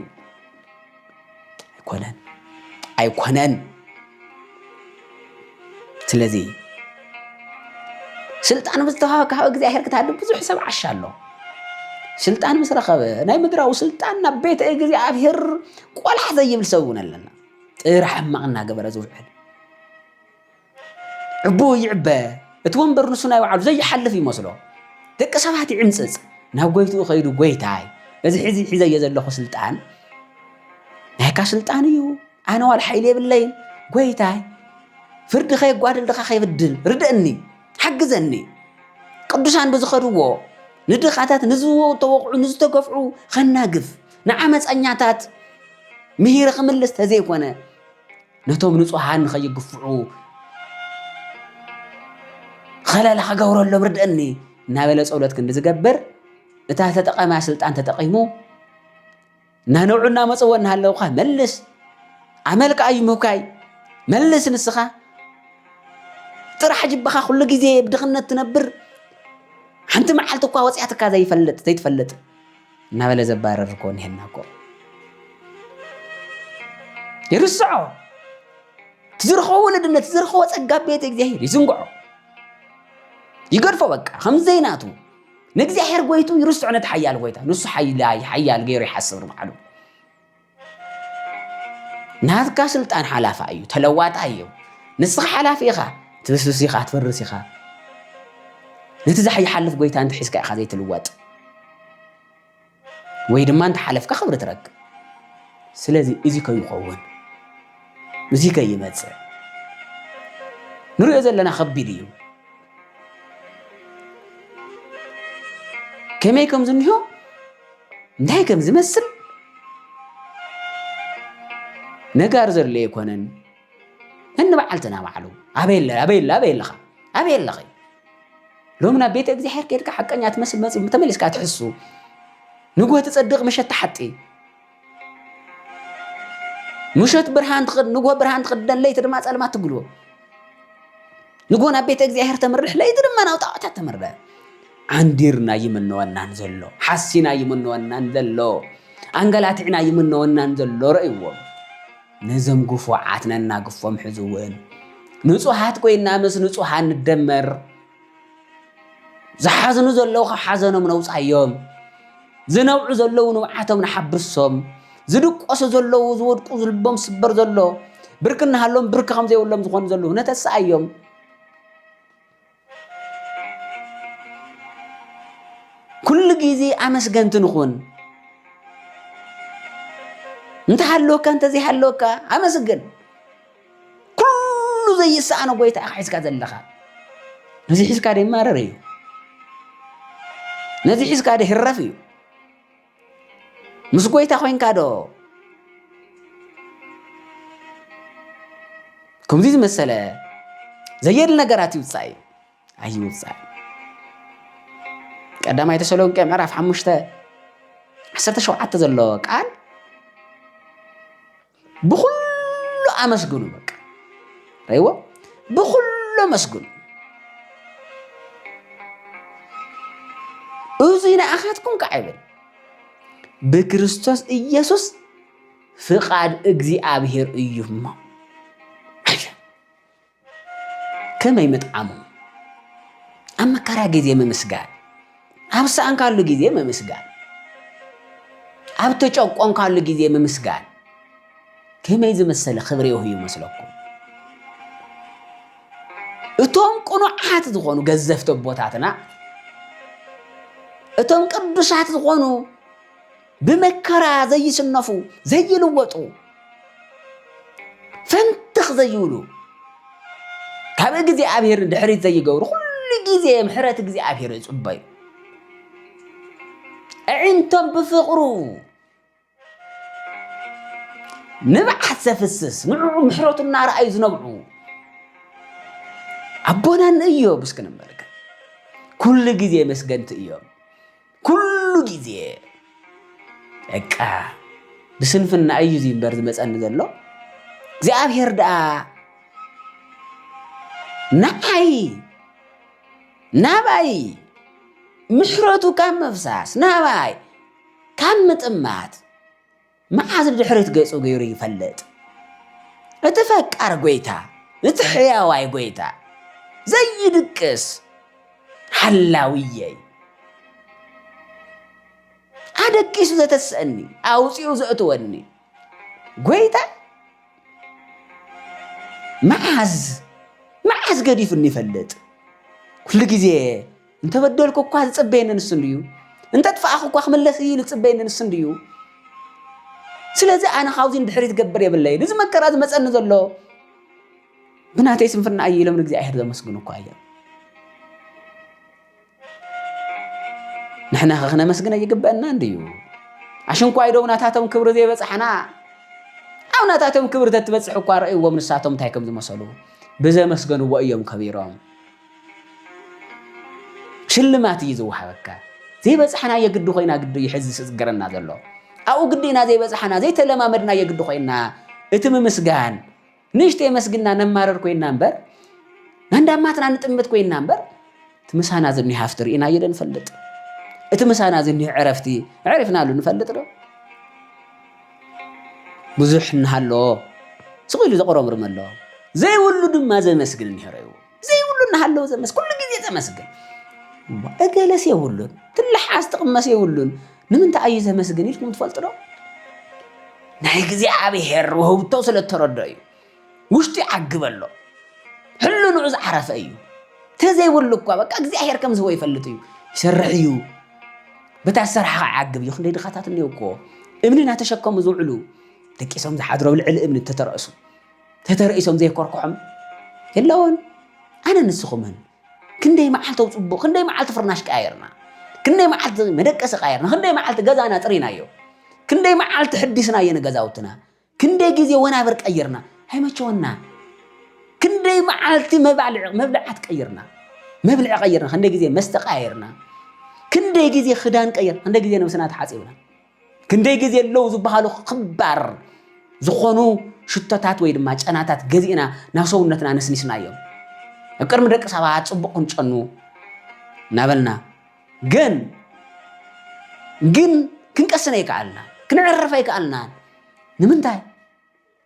ኣይኮነን ኣይኮነን ስለዚ ስልጣን ምስ ተዋሃብካ ካብ እግዚኣብሔር ክትሃድም ብዙሕ ሰብ ዓሻ ኣሎ ስልጣን ምስ ረኸበ ናይ ምድራዊ ስልጣን ናብ ቤተ እግዚኣብሔር ቆልሓ ዘይብል ሰብ እውን ኣለና ጥራሕ ሕማቕ እናገበረ ዝውዕል ዕቡኡ ይዕበ፣ እቲ ወንበር ንሱ ናይ ባዕሉ ዘይሓልፍ ይመስሎ። ደቂ ሰባት ይዕምጽጽ፣ ናብ ጎይትኡ ከይዱ ጎይታይ እዚ ሕዚ ሒዘዮ ዘለኹ ስልጣን ናይካ ስልጣን እዩ፣ ኣነ ዋላ ሓይሊ የብለይን፣ ጎይታይ ፍርዲ ከየጓድል ድኻ ከይብድል ርድእኒ፣ ሓግዘኒ ቅዱሳን ብዝኸድዎ ንድኻታት ንዝተወቕዑ ንዝተገፍዑ ኸናግፍ ንዓመፀኛታት ምሂረ ክምልስ ተዘይኮነ ነቶም ንጹሃን ንኸይግፍዑ ኸለላ ክገብረሎም ርድእኒ እናበለ ጸሎት ክንዲ ዝገብር እታ ተጠቐማ ስልጣን ተጠቒሙ እናነብዑ እናመፅዎ እናሃለውካ መልስ ኣመልካ እዩ ምብካይ መልስ ንስኻ ጥራሕ ጅብኻ ኩሉ ግዜ ብድኽነት ትነብር ሓንቲ መዓልቲ እኳ ወፂኣትካ ዘይፈልጥ ዘይትፈልጥ እናበለ ዘባረር እኮ እኒሀና እኮ ይርስዖ ትዝርኸቦ ወለድነት ትዝርኸቦ ጸጋ ቤት እግዚኣብሔር ይዝንግዖ ይገድፎ በቃ ከምዘይናቱ ንእግዚኣብሔር ጎይቱ ይርስዖ ነቲ ሓያል ጎይታ ንሱ ሓያል ገይሩ ይሓስብ ንባዕሉ ናትካ ስልጣን ሓላፋ እዩ ተለዋጣ እዩ ንስኻ ሓላፊ ኢኻ ትብስብስ ኢኻ ትፍርስ ኢኻ ነቲ ዝሓይሓልፍ ጎይታ እንተ ሒዝካ ኢኻ ዘይትልወጥ ወይ ድማ እንተ ሓለፍካ ክብሪ ትረክብ ስለዚ እዚ ከይኸውን እዚ ከይመፅእ ንሪኦ ዘለና ከቢድ እዩ ከመይ ከም ዝንሆ እንታይ ከም ዝመስል ነጋር ዘሎ ኣይኮነን እንበዓልትና ባዕሉ ኣበይ ኣለ ኣበይ ኣለ ኣበይ ኣለኻ ኣበይ ኣለኺ ሎሚ ናብ ቤተ እግዚኣብሔር ከድካ ሓቀኛ ትመስል መፅ ተመሊስካ ትሕሱ ንጎ ትፀድቕ መሸት ትሓጢ ምሸት ብርሃን ትኽድ ንጎ ብርሃን ትኽደን ለይቲ ድማ ጸልማት ትግልቦ ንጎ ናብ ቤተ እግዚኣብሔር ተምርሕ ለይቲ ድማ ናብ ጣዖታት ተምርሕ ዓንዲርና ይምነወናን ዘሎ ሓሲና ይምነወናን ዘሎ ኣንገላትዕና ይምነወናን ዘሎ ረእይዎም ነዞም ግፉዓት ነናግፎም ሕዝውን ንጹሃት ኮይና ምስ ንጹሃን ንደመር ዝሓዝኑ ዘለዉ ካብ ሓዘኖም ነውፃዮም ዝነብዑ ዘለዉ ንብዓቶም ንሓብርሶም ዝድቆሱ ዘለዉ ዝወድቁ ዝልቦም ስበር ዘሎ ብርክ እናሃሎም ብርክ ከም ዘይብሎም ዝኾኑ ዘለዉ ነተስኣዮም ኩሉ ግዜ ኣመስገንቲ ንኹን እንተሃለወካ እንተዘይሃለወካ ኣመስግን ኩሉ ዘይሰኣኖ ጎይታ ኢኻ ሒዝካ ዘለኻ ነዚ ሒዝካ ደ ይማረር እዩ ነዚ ሒዝካ ደ ህረፍ እዩ ምስ ጎይታ ኮንካ ዶ ከምዚ ዝመሰለ ዘየድሊ ነገራት ይውፃእ እዩ ኣይውፃእ ቀዳማይ ተሰሎንቄ ምዕራፍ ሓሙሽተ ዓሰርተ ሸውዓተ ዘሎ ቃል ብኩሉ ኣመስግኑ በቃ ረይዎ ብኩሉ ኣመስግኑ እዙይ ንኣኻትኩም ከዓ ይብል ብክርስቶስ ኢየሱስ ፍቃድ እግዚኣብሔር እዩ እሞ ከመይ ምጥዓሙ ኣብ መከራ ግዜ ምምስጋን፣ ኣብ ሰኣንካሉ ግዜ ምምስጋን፣ ኣብ ተጨቆንካሉ ግዜ ምምስጋን ከመይ ዝመሰለ ክብሪ ይህቡ ይመስለኩም? እቶም ቅኑዓት ዝኾኑ ገዘፍቲ ኣቦታትና እቶም ቅዱሳት ዝኾኑ ብመከራ ዘይስነፉ ዘይልወጡ ፈንትኽ ዘይብሉ ካብ እግዚኣብሔር ድሕሪት ዘይገብሩ ኩሉ ግዜ ምሕረት እግዚኣብሔር ይጽበዩ ኣዒንቶም ብፍቕሩ ንብዓት ዘፍስስ ንዕዑ ምሕረቱ እናረኣዩ ዝነብዑ ኣቦናን እዮም እስክንበልክ ኩሉ ግዜ መስገንቲ እዮም ኩሉ ግዜ በቃ ብስንፍና እዩ እዚ እምበር ዝመፀኒ ዘሎ እግዚኣብሔር ደኣ ንዓይ ናባይ ምሕረቱ ካብ ምፍሳስ ናባይ ካብ ምጥማት መዓስ ንድሕሪት ገጹ ገይሩ ይፈልጥ? እቲ ፈቃር ጐይታ፣ እቲ ሕያዋይ ጐይታ፣ ዘይድቅስ ሓላውየይ፣ ኣደቂሱ ዘተስእኒ፣ ኣውጺኡ ዘእትወኒ ጐይታ መዓዝ መዓስ ገዲፉኒ ይፈልጥ? ኩሉ ግዜ እንተበደልኩ እኳ ዝፅበየኒ ንሱ እንድዩ እንተጥፋእኹ እኳ ክምለስ እዩ ዝፅበየኒ ንሱ እንድዩ ስለዚ ኣነ ካብዚ ንድሕሪ ዝገብር የብለይን እዚ መከራ ዝመፀኒ ዘሎ ብናተይ ስንፍና እዩ ኢሎም ንእግዚኣብሔር ዘመስግኑ እኳ እዮም ንሕና ከ ክነመስግነ ይግበአና እንድዩ ኣሽንኳይ ዶም ናታቶም ክብሪ ዘይበፅሓና ኣብ ናታቶም ክብሪ ተትበፅሕ እኳ ረእይዎም ንሳቶም እንታይ ከም ዝመሰሉ ብዘመስገንዎ እዮም ከቢሮም ሽልማት እዩ ዝወሃበካ። ዘይበጽሓናዮ ግዲ ኮይና ግዲ እዩ ሕዚ ዝስግረና ዘሎ። ኣብኡ ግዲ ኢና ዘይበጽሓና ዘይተለማመድናዮ ግዲ ኮይና እቲ ምምስጋን ንእሽተይ የመስግና ነማረር ኮይና እምበር መንዳማትና ንጥምት ኮይና እምበር እቲ ምሳና ዝኒህ ሃፍቲ ርኢናዮ ዶ ንፈልጥ? እቲ ምሳና ዝኒህ ዕረፍቲ ዕሪፍናሉ ንፈልጥ ዶ? ብዙሕ እናሃለዎ ስቕ ኢሉ ዘቑረምርም ኣሎ ዘይብሉ ድማ ዘመስግን እኒሀሮ እዩ። ዘይብሉ እናሃለወ ዘመስ ኩሉ ግዜ ዘመስግን እገለስ የብሉን ትልሓስ ትቕመስ የብሉን ንምንታይ ኣዩ ዘመስግን ኢልኩም ትፈልጡ ዶ ናይ እግዚኣብሔር ውህብቶ ስለ እተረዶ እዩ ውሽጡ ይዓግበሎ ሕልንዑ ዝዓረፈ እዩ ተዘይብሉ እኳ በቃ እግዚኣብሔር ከም ዝህቦ ይፈልጥ እዩ ይሰርሕ እዩ በታ ዝሰርሓ ከዓ ይዓግብ እዩ ክንደይ ድኻታት እኒኦ እኮ እምኒ እናተሸከሙ ዝውዕሉ ደቂሶም ዝሓድሮ ልዕሊ እምኒ እተተረእሱ ተተረኢሶም ዘይኮርክሖም የለውን ኣነ ንስኹምን ክንደይ መዓልቲ ፅቡቕ ክንደይ መዓልቲ ፍርናሽ ቀያየርና ክንደይ መዓልቲ መደቀሲ ቀያየርና ክንደይ መዓልቲ ገዛና ጥሪናዮ ክንደይ መዓልቲ ሕዲስናዮ ንገዛውትና ክንደይ ግዜ ወናብር ቀይርና ኣይመቸወና ክንደይ መዓልቲ መብልዓት ቀይርና መብልዒ ቀይርና ክንደይ ግዜ መስተ ቀያየርና ክንደይ ግዜ ክዳን ቀይር ክንደይ ግዜ ነብስና ተሓፂብና ክንደይ ግዜ ኣለዉ ዝበሃሉ ክባር ዝኾኑ ሽቶታት ወይ ድማ ጨናታት ገዚእና ናብ ሰውነትና ነስኒስናዮም ኣብ ቅድሚ ደቂ ሰባት ፅቡቅ ክንጨኑ እናበልና ግን ግን ክንቀስነ ይከኣልና ክንዕርፈ ይከኣልና ንምንታይ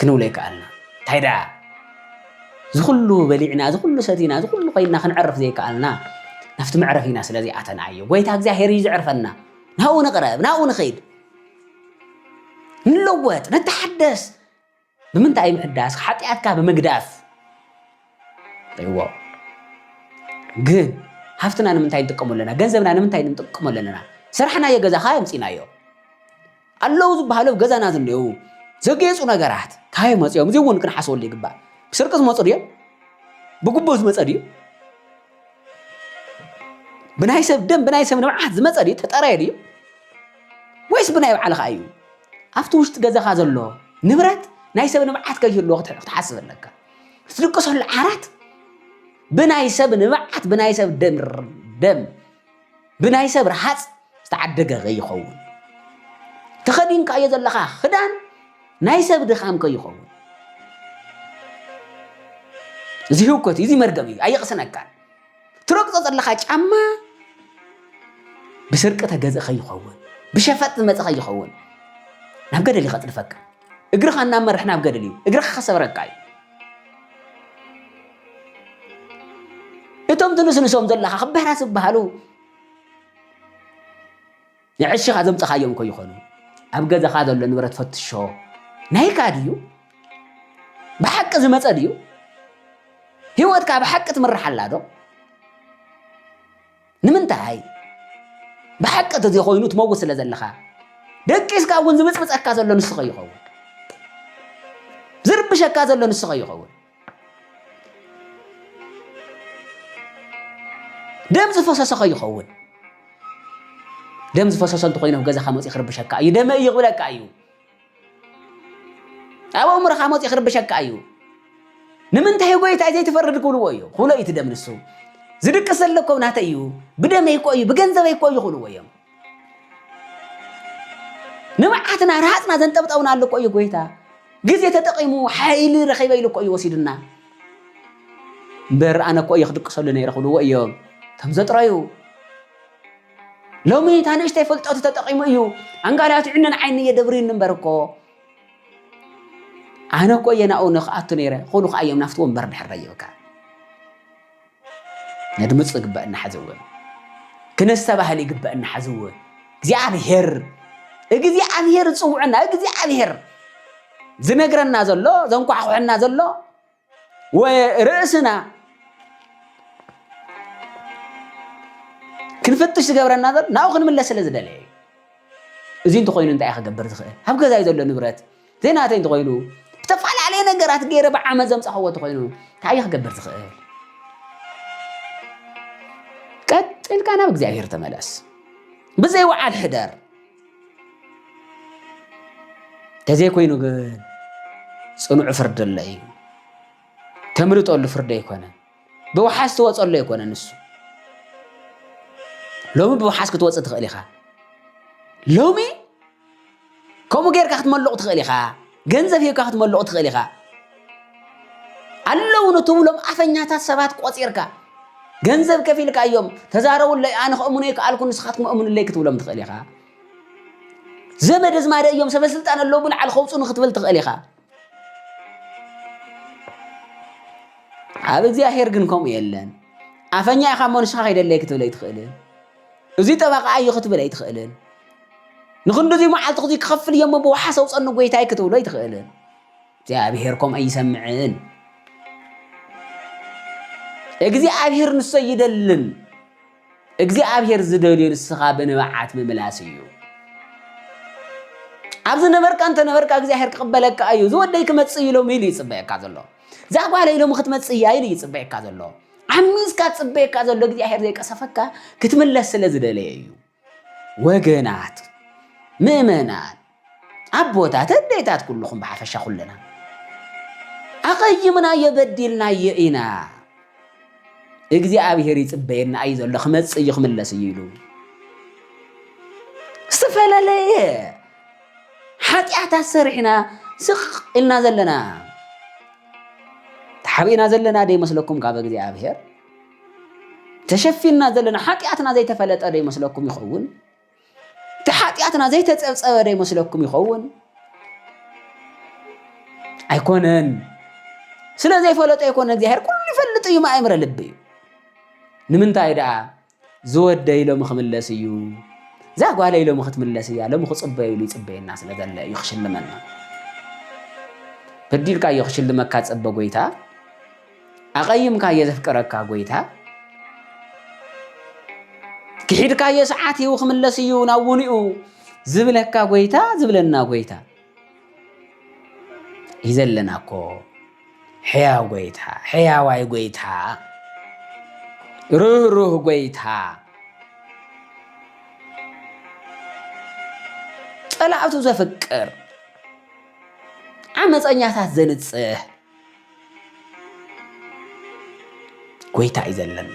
ክንብሎ ይከኣልና። እንታይ ደኣ እዚ ኩሉ በሊዕና እዚ ኩሉ ሰቲና እዚ ኩሉ ኮይንና ክንዕርፍ ዘይከኣልና ናብቲ መዕረፊና ስለ ዘይኣተና እዩ። ጎይታ እግዚኣብሄር እዩ ዝዕርፈና። ናብኡ ንቕረብ፣ ናብኡ ንኸይድ፣ ንለወጥ፣ ንተሓደስ ብምንታይ ምሕዳስ ሓጢኣትካ ብምግዳፍ ይዎ ግን ሃፍትና ንምንታይ ንጥቀሙ ኣለና ገንዘብና ንምንታይ ንጥቀሙ ኣለና ስራሕናዮ ገዛኻ የምፂናዮ ኣለዉ ዝበሃሉ ኣብ ገዛና ዝንኤው ዘጌፁ ነገራት ካበይ መፅኦም እዚ እውን ክንሓስበሉ ይግባእ ብስርቂ ዝመፁ ድዮም ብግቡእ ዝመፀ ድዩ ብናይ ሰብ ደም ብናይ ሰብ ንብዓት ዝመፀ ድዩ ተጠረየ ድዩ ወይስ ብናይ ባዕልኻ እዩ ኣብቲ ውሽጢ ገዛኻ ዘሎ ንብረት ናይ ሰብ ንብዓት ከይህልዎ ክትሓስብ ኣለካ ትድቅሰሉ ዓራት ብናይ ሰብ ንብዓት ብናይ ሰብ ደም ብናይ ሰብ ረሃፅ ዝተዓደገ ከይኸውን ተኸዲንካዮ ዘለኻ ክዳን ናይ ሰብ ድኻም ከይኸውን እዚ ህውከት እዩ እዚ መርገም እዩ ኣየቕስነካን ትረግፆ ዘለኻ ጫማ ብስርቂ ተገዘ ከይኸውን ብሸፈጥ ዝመፀ ከይኸውን ናብ ገደል ይኸጥልፈካ እግርኻ እናመርሕ ናብ ገደል እዩ እግርኻ ከሰብረካ እዩ እቶም ትንስንሶም ዘለኻ ክበህራ ዝበሃሉ ንዕሽኻ ዘምፀኻዮም እኮ ይኾኑ ኣብ ገዛኻ ዘሎ ንብረት ፈትሾ ናይካ ድዩ ብሓቂ ዝመፀ ድዩ ህይወትካ ብሓቂ ትምርሓላ ዶ ንምንታይ? ብሓቂ ተዘይኮይኑ ትመውት ስለ ዘለኻ ደቂስካ እውን ዝብፅብፀካ ዘሎ ንስኸ ይኸውን ዝርብሸካ ዘሎ ንስኸ ይኸውን ደም ዝፈሰሰኸ ይኸውን ደም ዝፈሰሰ እንተኮይኑ ገዛኻ መፅኡ ክርብሸካ እዩ ደመ እዩ ክብለካ እዩ ኣብ ኣእምሮኻ መፂኡ ክርብሸካ እዩ ንምንታይ ጎይታይ ዘይትፈርድ ክብልዎ እዩ ኩሎ እዩ ትደም ንሱ ዝድቅስ ዘሎ እኮ ናተይ እዩ ብደመይ እኮ እዩ ብገንዘበይ እኮ እዩ ክብልዎ እዮም ንብዓትና ረሃፅና ዘንጠብጠብና ኣሎ እኮ እዩ ጎይታ ግዜ ተጠቂሙ ሓይሊ ረኺበ ኢሉ እኮ እዩ ወሲዱና እምበር ኣነ እኮ እየ ክድቅሰሉ ነይረ ክብልዎ እዮም እቶም ዘጥረዩ ሎሚ እታ ንእሽተይ ፍልጠቱ ተጠቂሙ እዩ ኣንጋልያቱ ዕነን ዓይኒ የደብርዩኒ እምበር እኮ ኣነ እኮ እየ ናብኡ ንክኣቱ ነይረ ኮኑ ከዓ እዮም ናፍቲ ወንበር ድሕር ረይብካ ነድምፁ ይግበአና ሓዚ እውን ክነስተባህል ይግበአና ሓዚ እውን እግዚኣብሔር እግዚኣብሔር ዝፅውዐና እግዚኣብሔር ዝነግረና ዘሎ ዘንኳሕኩሐና ዘሎ ርእስና ክንፍትሽ ዝገብረና ዘሎ ናብኡ ክንምለስ ስለ ዝደለየ እዩ እዚ እንተኮይኑ እንታይ ክገብር ዝኽእል ኣብ ገዛይ ዘሎ ንብረት ዘይናተይ እንተኮይኑ ዝተፈላለየ ነገራት ገይረ ብዓመት ዘምፃኸዎ እንተኮይኑ እንታይ እዩ ክገብር ዝኽእል ቀጥልካ ናብ እግዚኣብሄር ተመለስ ብዘይ ወዓል ሕደር ተዘይኮይኑ ግን ፅኑዕ ፍርዲ ኣሎ እዩ ተምልጠሉ ፍርዲ ኣይኮነን ብውሓስ ትወፀሉ ኣይኮነን ንሱ ሎሚ ብውሓስ ክትወፅእ ትኽእል ኢኻ ሎሚ ከምኡ ጌርካ ክትመልቑ ትኽእል ኢኻ ገንዘብ ሂብካ ክትመልቑ ትኽእል ኢኻ። ኣለዉ ንትብሎም ኣፈኛታት ሰባት ቆጺርካ ገንዘብ ከፊልካ እዮም ተዛረቡለይ ኣነ ክእምኖ ይከኣልኩ ንስኻትኩም እምኑለይ ክትብሎም ትኽእል ኢኻ። ዘመድ ኣዝማደ እዮም ሰበስልጣን ኣለዉ ብልዓል ከውፁ ንክትብል ትኽእል ኢኻ። ኣብ እግዚኣብሄር ግን ከምኡ የለን። ኣፈኛ ኢኻ እሞ ንስኻ ከይደለይ ክትብል ኣይትኽእልን። እዙይ ጠበቃ እዩ ክትብል ኣይትኽእልን። ንኽንድዚ መዓልቲ ክዚ ክኸፍል እየሞ ብውሓስ ኣውፀኒ ጎይታይ ክትብሎ ኣይትኽእልን። እግዚኣብሔር ከምኡ ኣይሰምዕን። እግዚኣብሔር ንሶ ኣይደልን። እግዚኣብሔር ዝደልዮ ንስኻ ብንብዓት ምምላስ እዩ። ኣብ ዝነበርካ እንተነበርካ እግዚኣብሔር ክቕበለካ እዩ። ዝወደይ ክመፅእ እዩ ሎሚ ኢሉ ይፅበየካ ዘሎ። እዛ ጓለይ ሎሚ ክትመፅእ እያ ኢሉ ይፅበየካ ዘሎ። ዓሚዝካ ፅበየካ ዘሎ እግዚኣብሔር ዘይቀሰፈካ ክትምለስ ስለ ዝደለየ እዩ። ወገናት ምእመናን ኣቦታት ኣዴታት ኩልኹም ብሓፈሻ ኩለና ኣቐይምናዮ በዲልናዮ ኢና እግዚኣብሔር ይፅበየና እዩ ዘሎ ክመፅእ እዩ ክምለስ እዩ ኢሉ ዝተፈላለየ ሓጢኣታት ሰሪሕና ስቕ ኢልና ዘለና ተሓቢእና ዘለና ደይመስለኩም ካብ እግዚኣብሔር ተሸፊንና ዘለና ሓጢኣትና ዘይተፈለጠ ዶ ይመስለኩም ይኸውን? እቲ ሓጢኣትና ዘይተጸብጸበ ዶ ይመስለኩም ይኸውን? ኣይኮነን። ስለ ዘይፈለጦ ኣይኮነ እግዚኣብሔር ኩሉ ይፈልጥ እዩ ማእምረ ልቢ እዩ። ንምንታይ ደኣ ዝወደ ኢሎም ክምለስ እዩ እዛ ጓለ ኢሎም ክትምለስ እያ ሎም ክፅበዩ ኢሉ ይፅበየና ስለ ዘለ እዩ ክሽልመና በዲልካ እዮ ክሽልመካ ፀበ ጎይታ ኣቐይምካዮ ዘፍቅረካ ጎይታ ክሒድካዮ ሰዓት እዩ ክምለስ እዩ ናብ ውንኡ ዝብለካ ጎይታ ዝብለና ጎይታ እዩ ዘለና እኮ ሕያው ጎይታ ሕያዋይ ጎይታ ርህሩህ ጎይታ ጸላእቱ ዘፍቅር ዓመፀኛታት ዘንጽህ ጎይታ እዩ ዘለኒ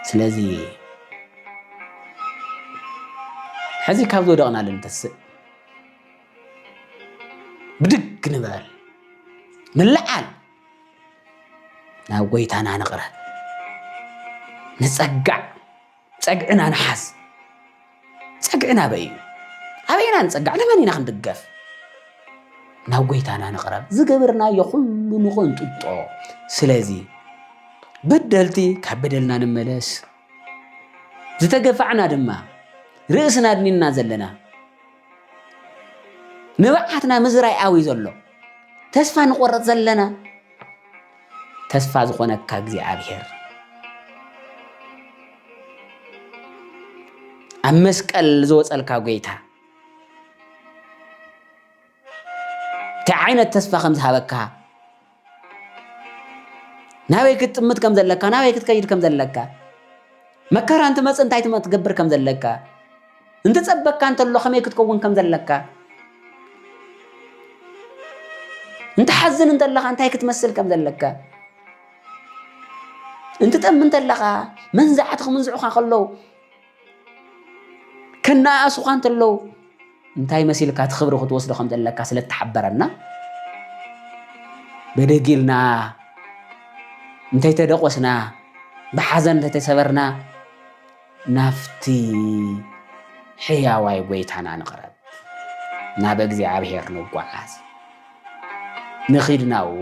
ስለዚ ሕዚ ካብ ዝወደቕናሉ ንተስእ ብድግ ንበል ንለዓል ናብ ጎይታና ንቕረብ ንጸጋዕ ፀግዕና ንሓዝ ፀግዕና ኣበይ እዩ ኣበይ ኢና ንፀጋዕ ንመን ኢና ክንድገፍ ናብ ጎይታና ንቕረብ ዝገበርናዮ ኩሉ ንቐንጥጦ ስለዚ በደልቲ ካብ በደልና ንመለስ ዝተገፋዕና ድማ ርእስና ኣድኒና ዘለና ንብዓትና ምዝራይ ኣዊ ዘሎ ተስፋ ንቆረፅ ዘለና ተስፋ ዝኾነካ እግዚኣብሔር ኣብ መስቀል ዝወፀልካ ጎይታ እንታይ ዓይነት ተስፋ ከም ዝሃበካ ናበይ ክትጥምት ከም ዘለካ ናበይ ክትከይድ ከም ዘለካ መከራ እንትመፅእ እንታይ ትገብር ከም ዘለካ እንትጸበካ እንተሎ ከመይ ክትከውን ከም ዘለካ፣ እንትሓዝን እንተለኻ እንታይ ክትመስል ከም ዘለካ፣ እንትጠም እንተለኻ መንዛዕቲ ክምንዝዑኻ ከለዉ ከነኣእሱኻ እንተለዉ እንታይ መሲልካ እቲ ክብሪ ክትወስዶ ከም ዘለካ ስለ እተሓበረና በደጊልና እንተይተደቆስና ብሓዘን እንተይተሰበርና ናብቲ ሕያዋይ ጐይታና ንቕረብ፣ ናብ እግዚኣብሔር ንጓዓዝ፣ ንኺድ ናብኡ፣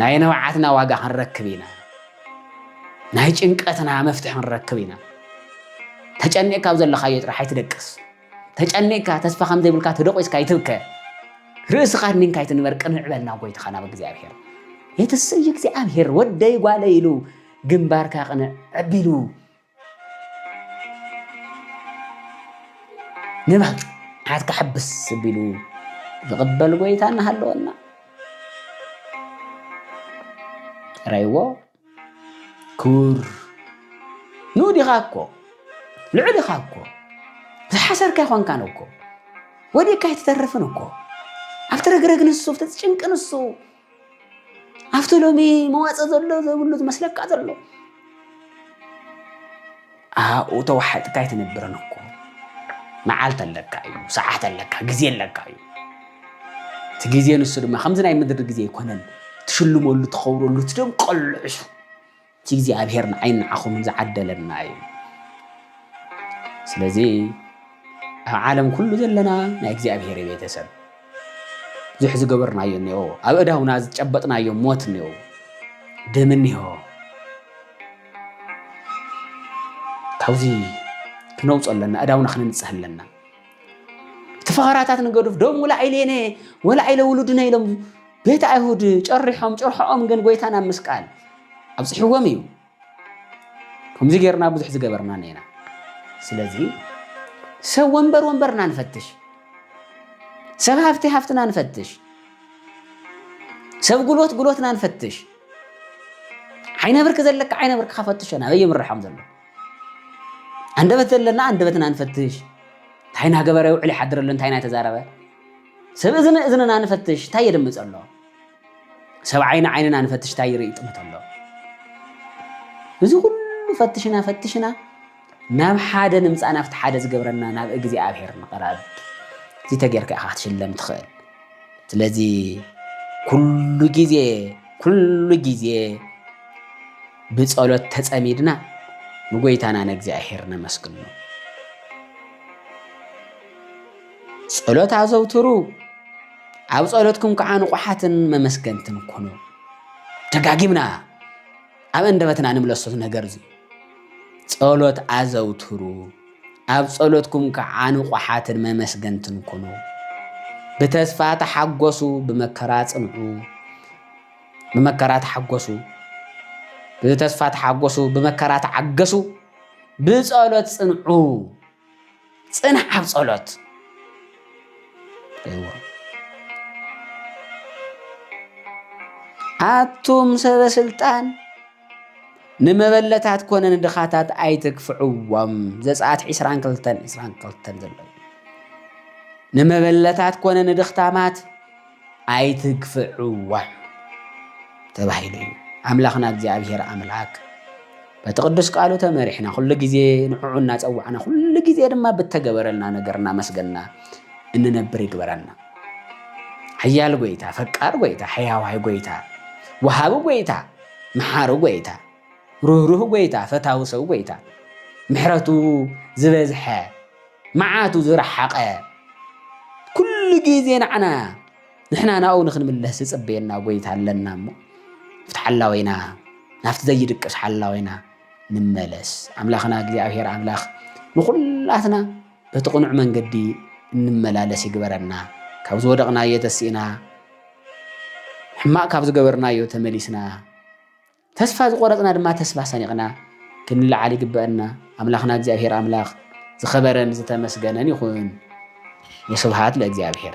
ናይ ንብዓትና ዋጋ ክንረክብ ኢና፣ ናይ ጭንቀትና መፍትሒ ክንረክብ ኢና። ተጨኒቕካ ኣብ ዘለኻዮ ጥራሕ ኣይትደቅስ፣ ተጨኒቕካ ተስፋ ከም ዘይብልካ ተደቂስካ ኣይትብከ፣ ርእስኻ ኣድኒንካ ኣይትንበር፣ ቅንዕ በል ናብ ጐይታኻ ናብ እግዚኣብሔር። የትስእይ እግዚኣብሔር ወደይ ጓለይ ኢሉ ግንባርካ ቅንዕ ኣቢሉ ንብዓትካ ሕብስ ኣቢሉ ዝቕበል ጎይታ እናሃለወና ረይዎ ክቡር ንኡድ ኢኻ እኮ ልዑል ኢኻ እኮ ዝሓሰርካ ይኾንካን እኮ ወዲቕካ ኣይትተርፍን እኮ ኣብቲ ረግረግ ንሱ ኣብቲ ጭንቂ ንሱ ኣብቲ ሎሚ መዋፅእ ዘሎ ዘይብሉ ዝመስለካ ዘሎ ኣብኡ ተዋሓጥካ ኣይትነብርን እኮ መዓልቲ ኣለካ እዩ ሰዓት ኣለካ ግዜ ኣለካ እዩ እቲ ግዜ ንሱ ድማ ከምዚ ናይ ምድሪ ግዜ ኣይኮነን ትሽልመሉ ትኸብረሉ ትደምቀሉ ዕሹ እቲ እግዚኣብሔር ንዓይን ንዓኹምን ዝዓደለና እዩ። ስለዚ ኣብ ዓለም ኩሉ ዘለና ናይ እግዚኣብሔር ቤተሰብ ብዙሕ ዝገበርናዮ እኒኦ ኣብ እዳውና ዝጨበጥናዮ ሞት እኒኦ ደም እኒሆ ካብዚ ክነውፅ ኣለና እዳውና ክንንፅህ ኣለና እቲ ፈኸራታት ንገዱፍ ደም ወላዒሌነ ወላዒለ ውሉድነ ኢሎም ቤት ኣይሁድ ጨሪሖም ጭርሖኦም ግን ጎይታ ናብ ምስቃል ኣብፅሕዎም እዩ ከምዚ ጌርና ብዙሕ ዝገበርና ነና ስለዚ ሰብ ወንበር ወንበርና ንፈትሽ ሰብ ሃፍቲ ሃፍትና ንፈትሽ ሰብ ጉልበት ጉልበትና ንፈትሽ ዓይነ ብርክ ዘለካ ዓይነ ብርክካ ፈትሾ ናበይ ይምርሖም ዘሎ ኣንደበት ዘለና ኣንደበትና ንፈትሽ እንታይ ናገበረ ውዕል ይሓድር ኣሎ እንታይ ናተዛረበ ሰብ እዝኒ እዝንና ንፈትሽ እንታይ የድምፅ ኣሎ ሰብ ዓይኒ ዓይንና ንፈትሽ እንታይ ይርኢ ጥምት ኣሎ እዚ ኩሉ ፈትሽና ፈትሽና ናብ ሓደ ንምፃእ ናብቲ ሓደ ዝገብረና ናብ እግዚኣብሔር ንቕረብ እዚ ተጌርካ ኢኻ ክትሽለም ትኽእል ስለዚ ኩሉ ግዜ ኩሉ ግዜ ብጸሎት ተጸሚድና ንጎይታና ንእግዚኣብሔር ነመስግኖ። ጸሎት ኣዘውትሩ ኣብ ጸሎትኩም ከዓ ንቑሓትን መመስገንትን ኩኑ። ደጋጊምና ኣብ እንደበትና ንምለሶት ነገር እዚ ጸሎት ኣዘውትሩ ኣብ ጸሎትኩም ከኣ ንቑሓትን መመስገንትን ኩኑ። ብተስፋ ተሓጐሱ፣ ብመከራ ጽንዑ። ብመከራ ተሓጐሱ፣ ብተስፋ ተሓጐሱ፣ ብመከራ ተዓገሱ፣ ብጸሎት ጽንዑ። ጽናዕ ኣብ ጸሎት እዎ ኣቱም ሰበ ስልጣን ንመበለታት ኮነ ንድኻታት ኣይትግፍዕዎም። ዘጸኣት ዕስራን ክልተን ዕስራን ክልተን ዘሎ እዩ። ንመበለታት ኮነ ንድኽታማት ኣይትግፍዕዎም ተባሂሉ እዩ። ኣምላኽና እግዚኣብሔር ኣምላክ በቲ ቅዱስ ቃሉ ተመሪሕና ኩሉ ግዜ ንዕዑ እናጸዋዕና ኩሉ ግዜ ድማ ብተገበረልና ነገር እናመስገና እንነብር ይግበረና። ሓያል ጎይታ፣ ፈቃር ጎይታ፣ ሕያዋይ ጎይታ፣ ወሃቢ ጎይታ መሓሪ ጐይታ፣ ርህሩህ ጐይታ፣ ፈታዊ ሰብ ጐይታ፣ ምሕረቱ ዝበዝሐ፣ መዓቱ ዝረሓቐ፣ ኩሉ ግዜ ንዓና ንሕና ናብኡ ንኽንምለስ ዝጽበየና ጐይታ ኣለና እሞ ኣብቲ ሓላዊና ናብቲ ዘይድቅስ ሓላዊና ንመለስ። ኣምላኽና እግዚኣብሔር ኣምላኽ ንዅላትና በቲ ቅኑዕ መንገዲ እንመላለስ ይግበረና። ካብ ዝወደቕናዮ ተሲእና፣ ሕማቕ ካብ ዝገበርናዮ ተመሊስና፣ ተስፋ ዝቆረጽና ድማ ተስፋ ሰኒቕና ክንልዓል ይግበአና። ኣምላኽና እግዚኣብሔር ኣምላኽ ዝኸበረን ዝተመስገነን ይኹን። ወስብሃት ለእግዚኣብሔር።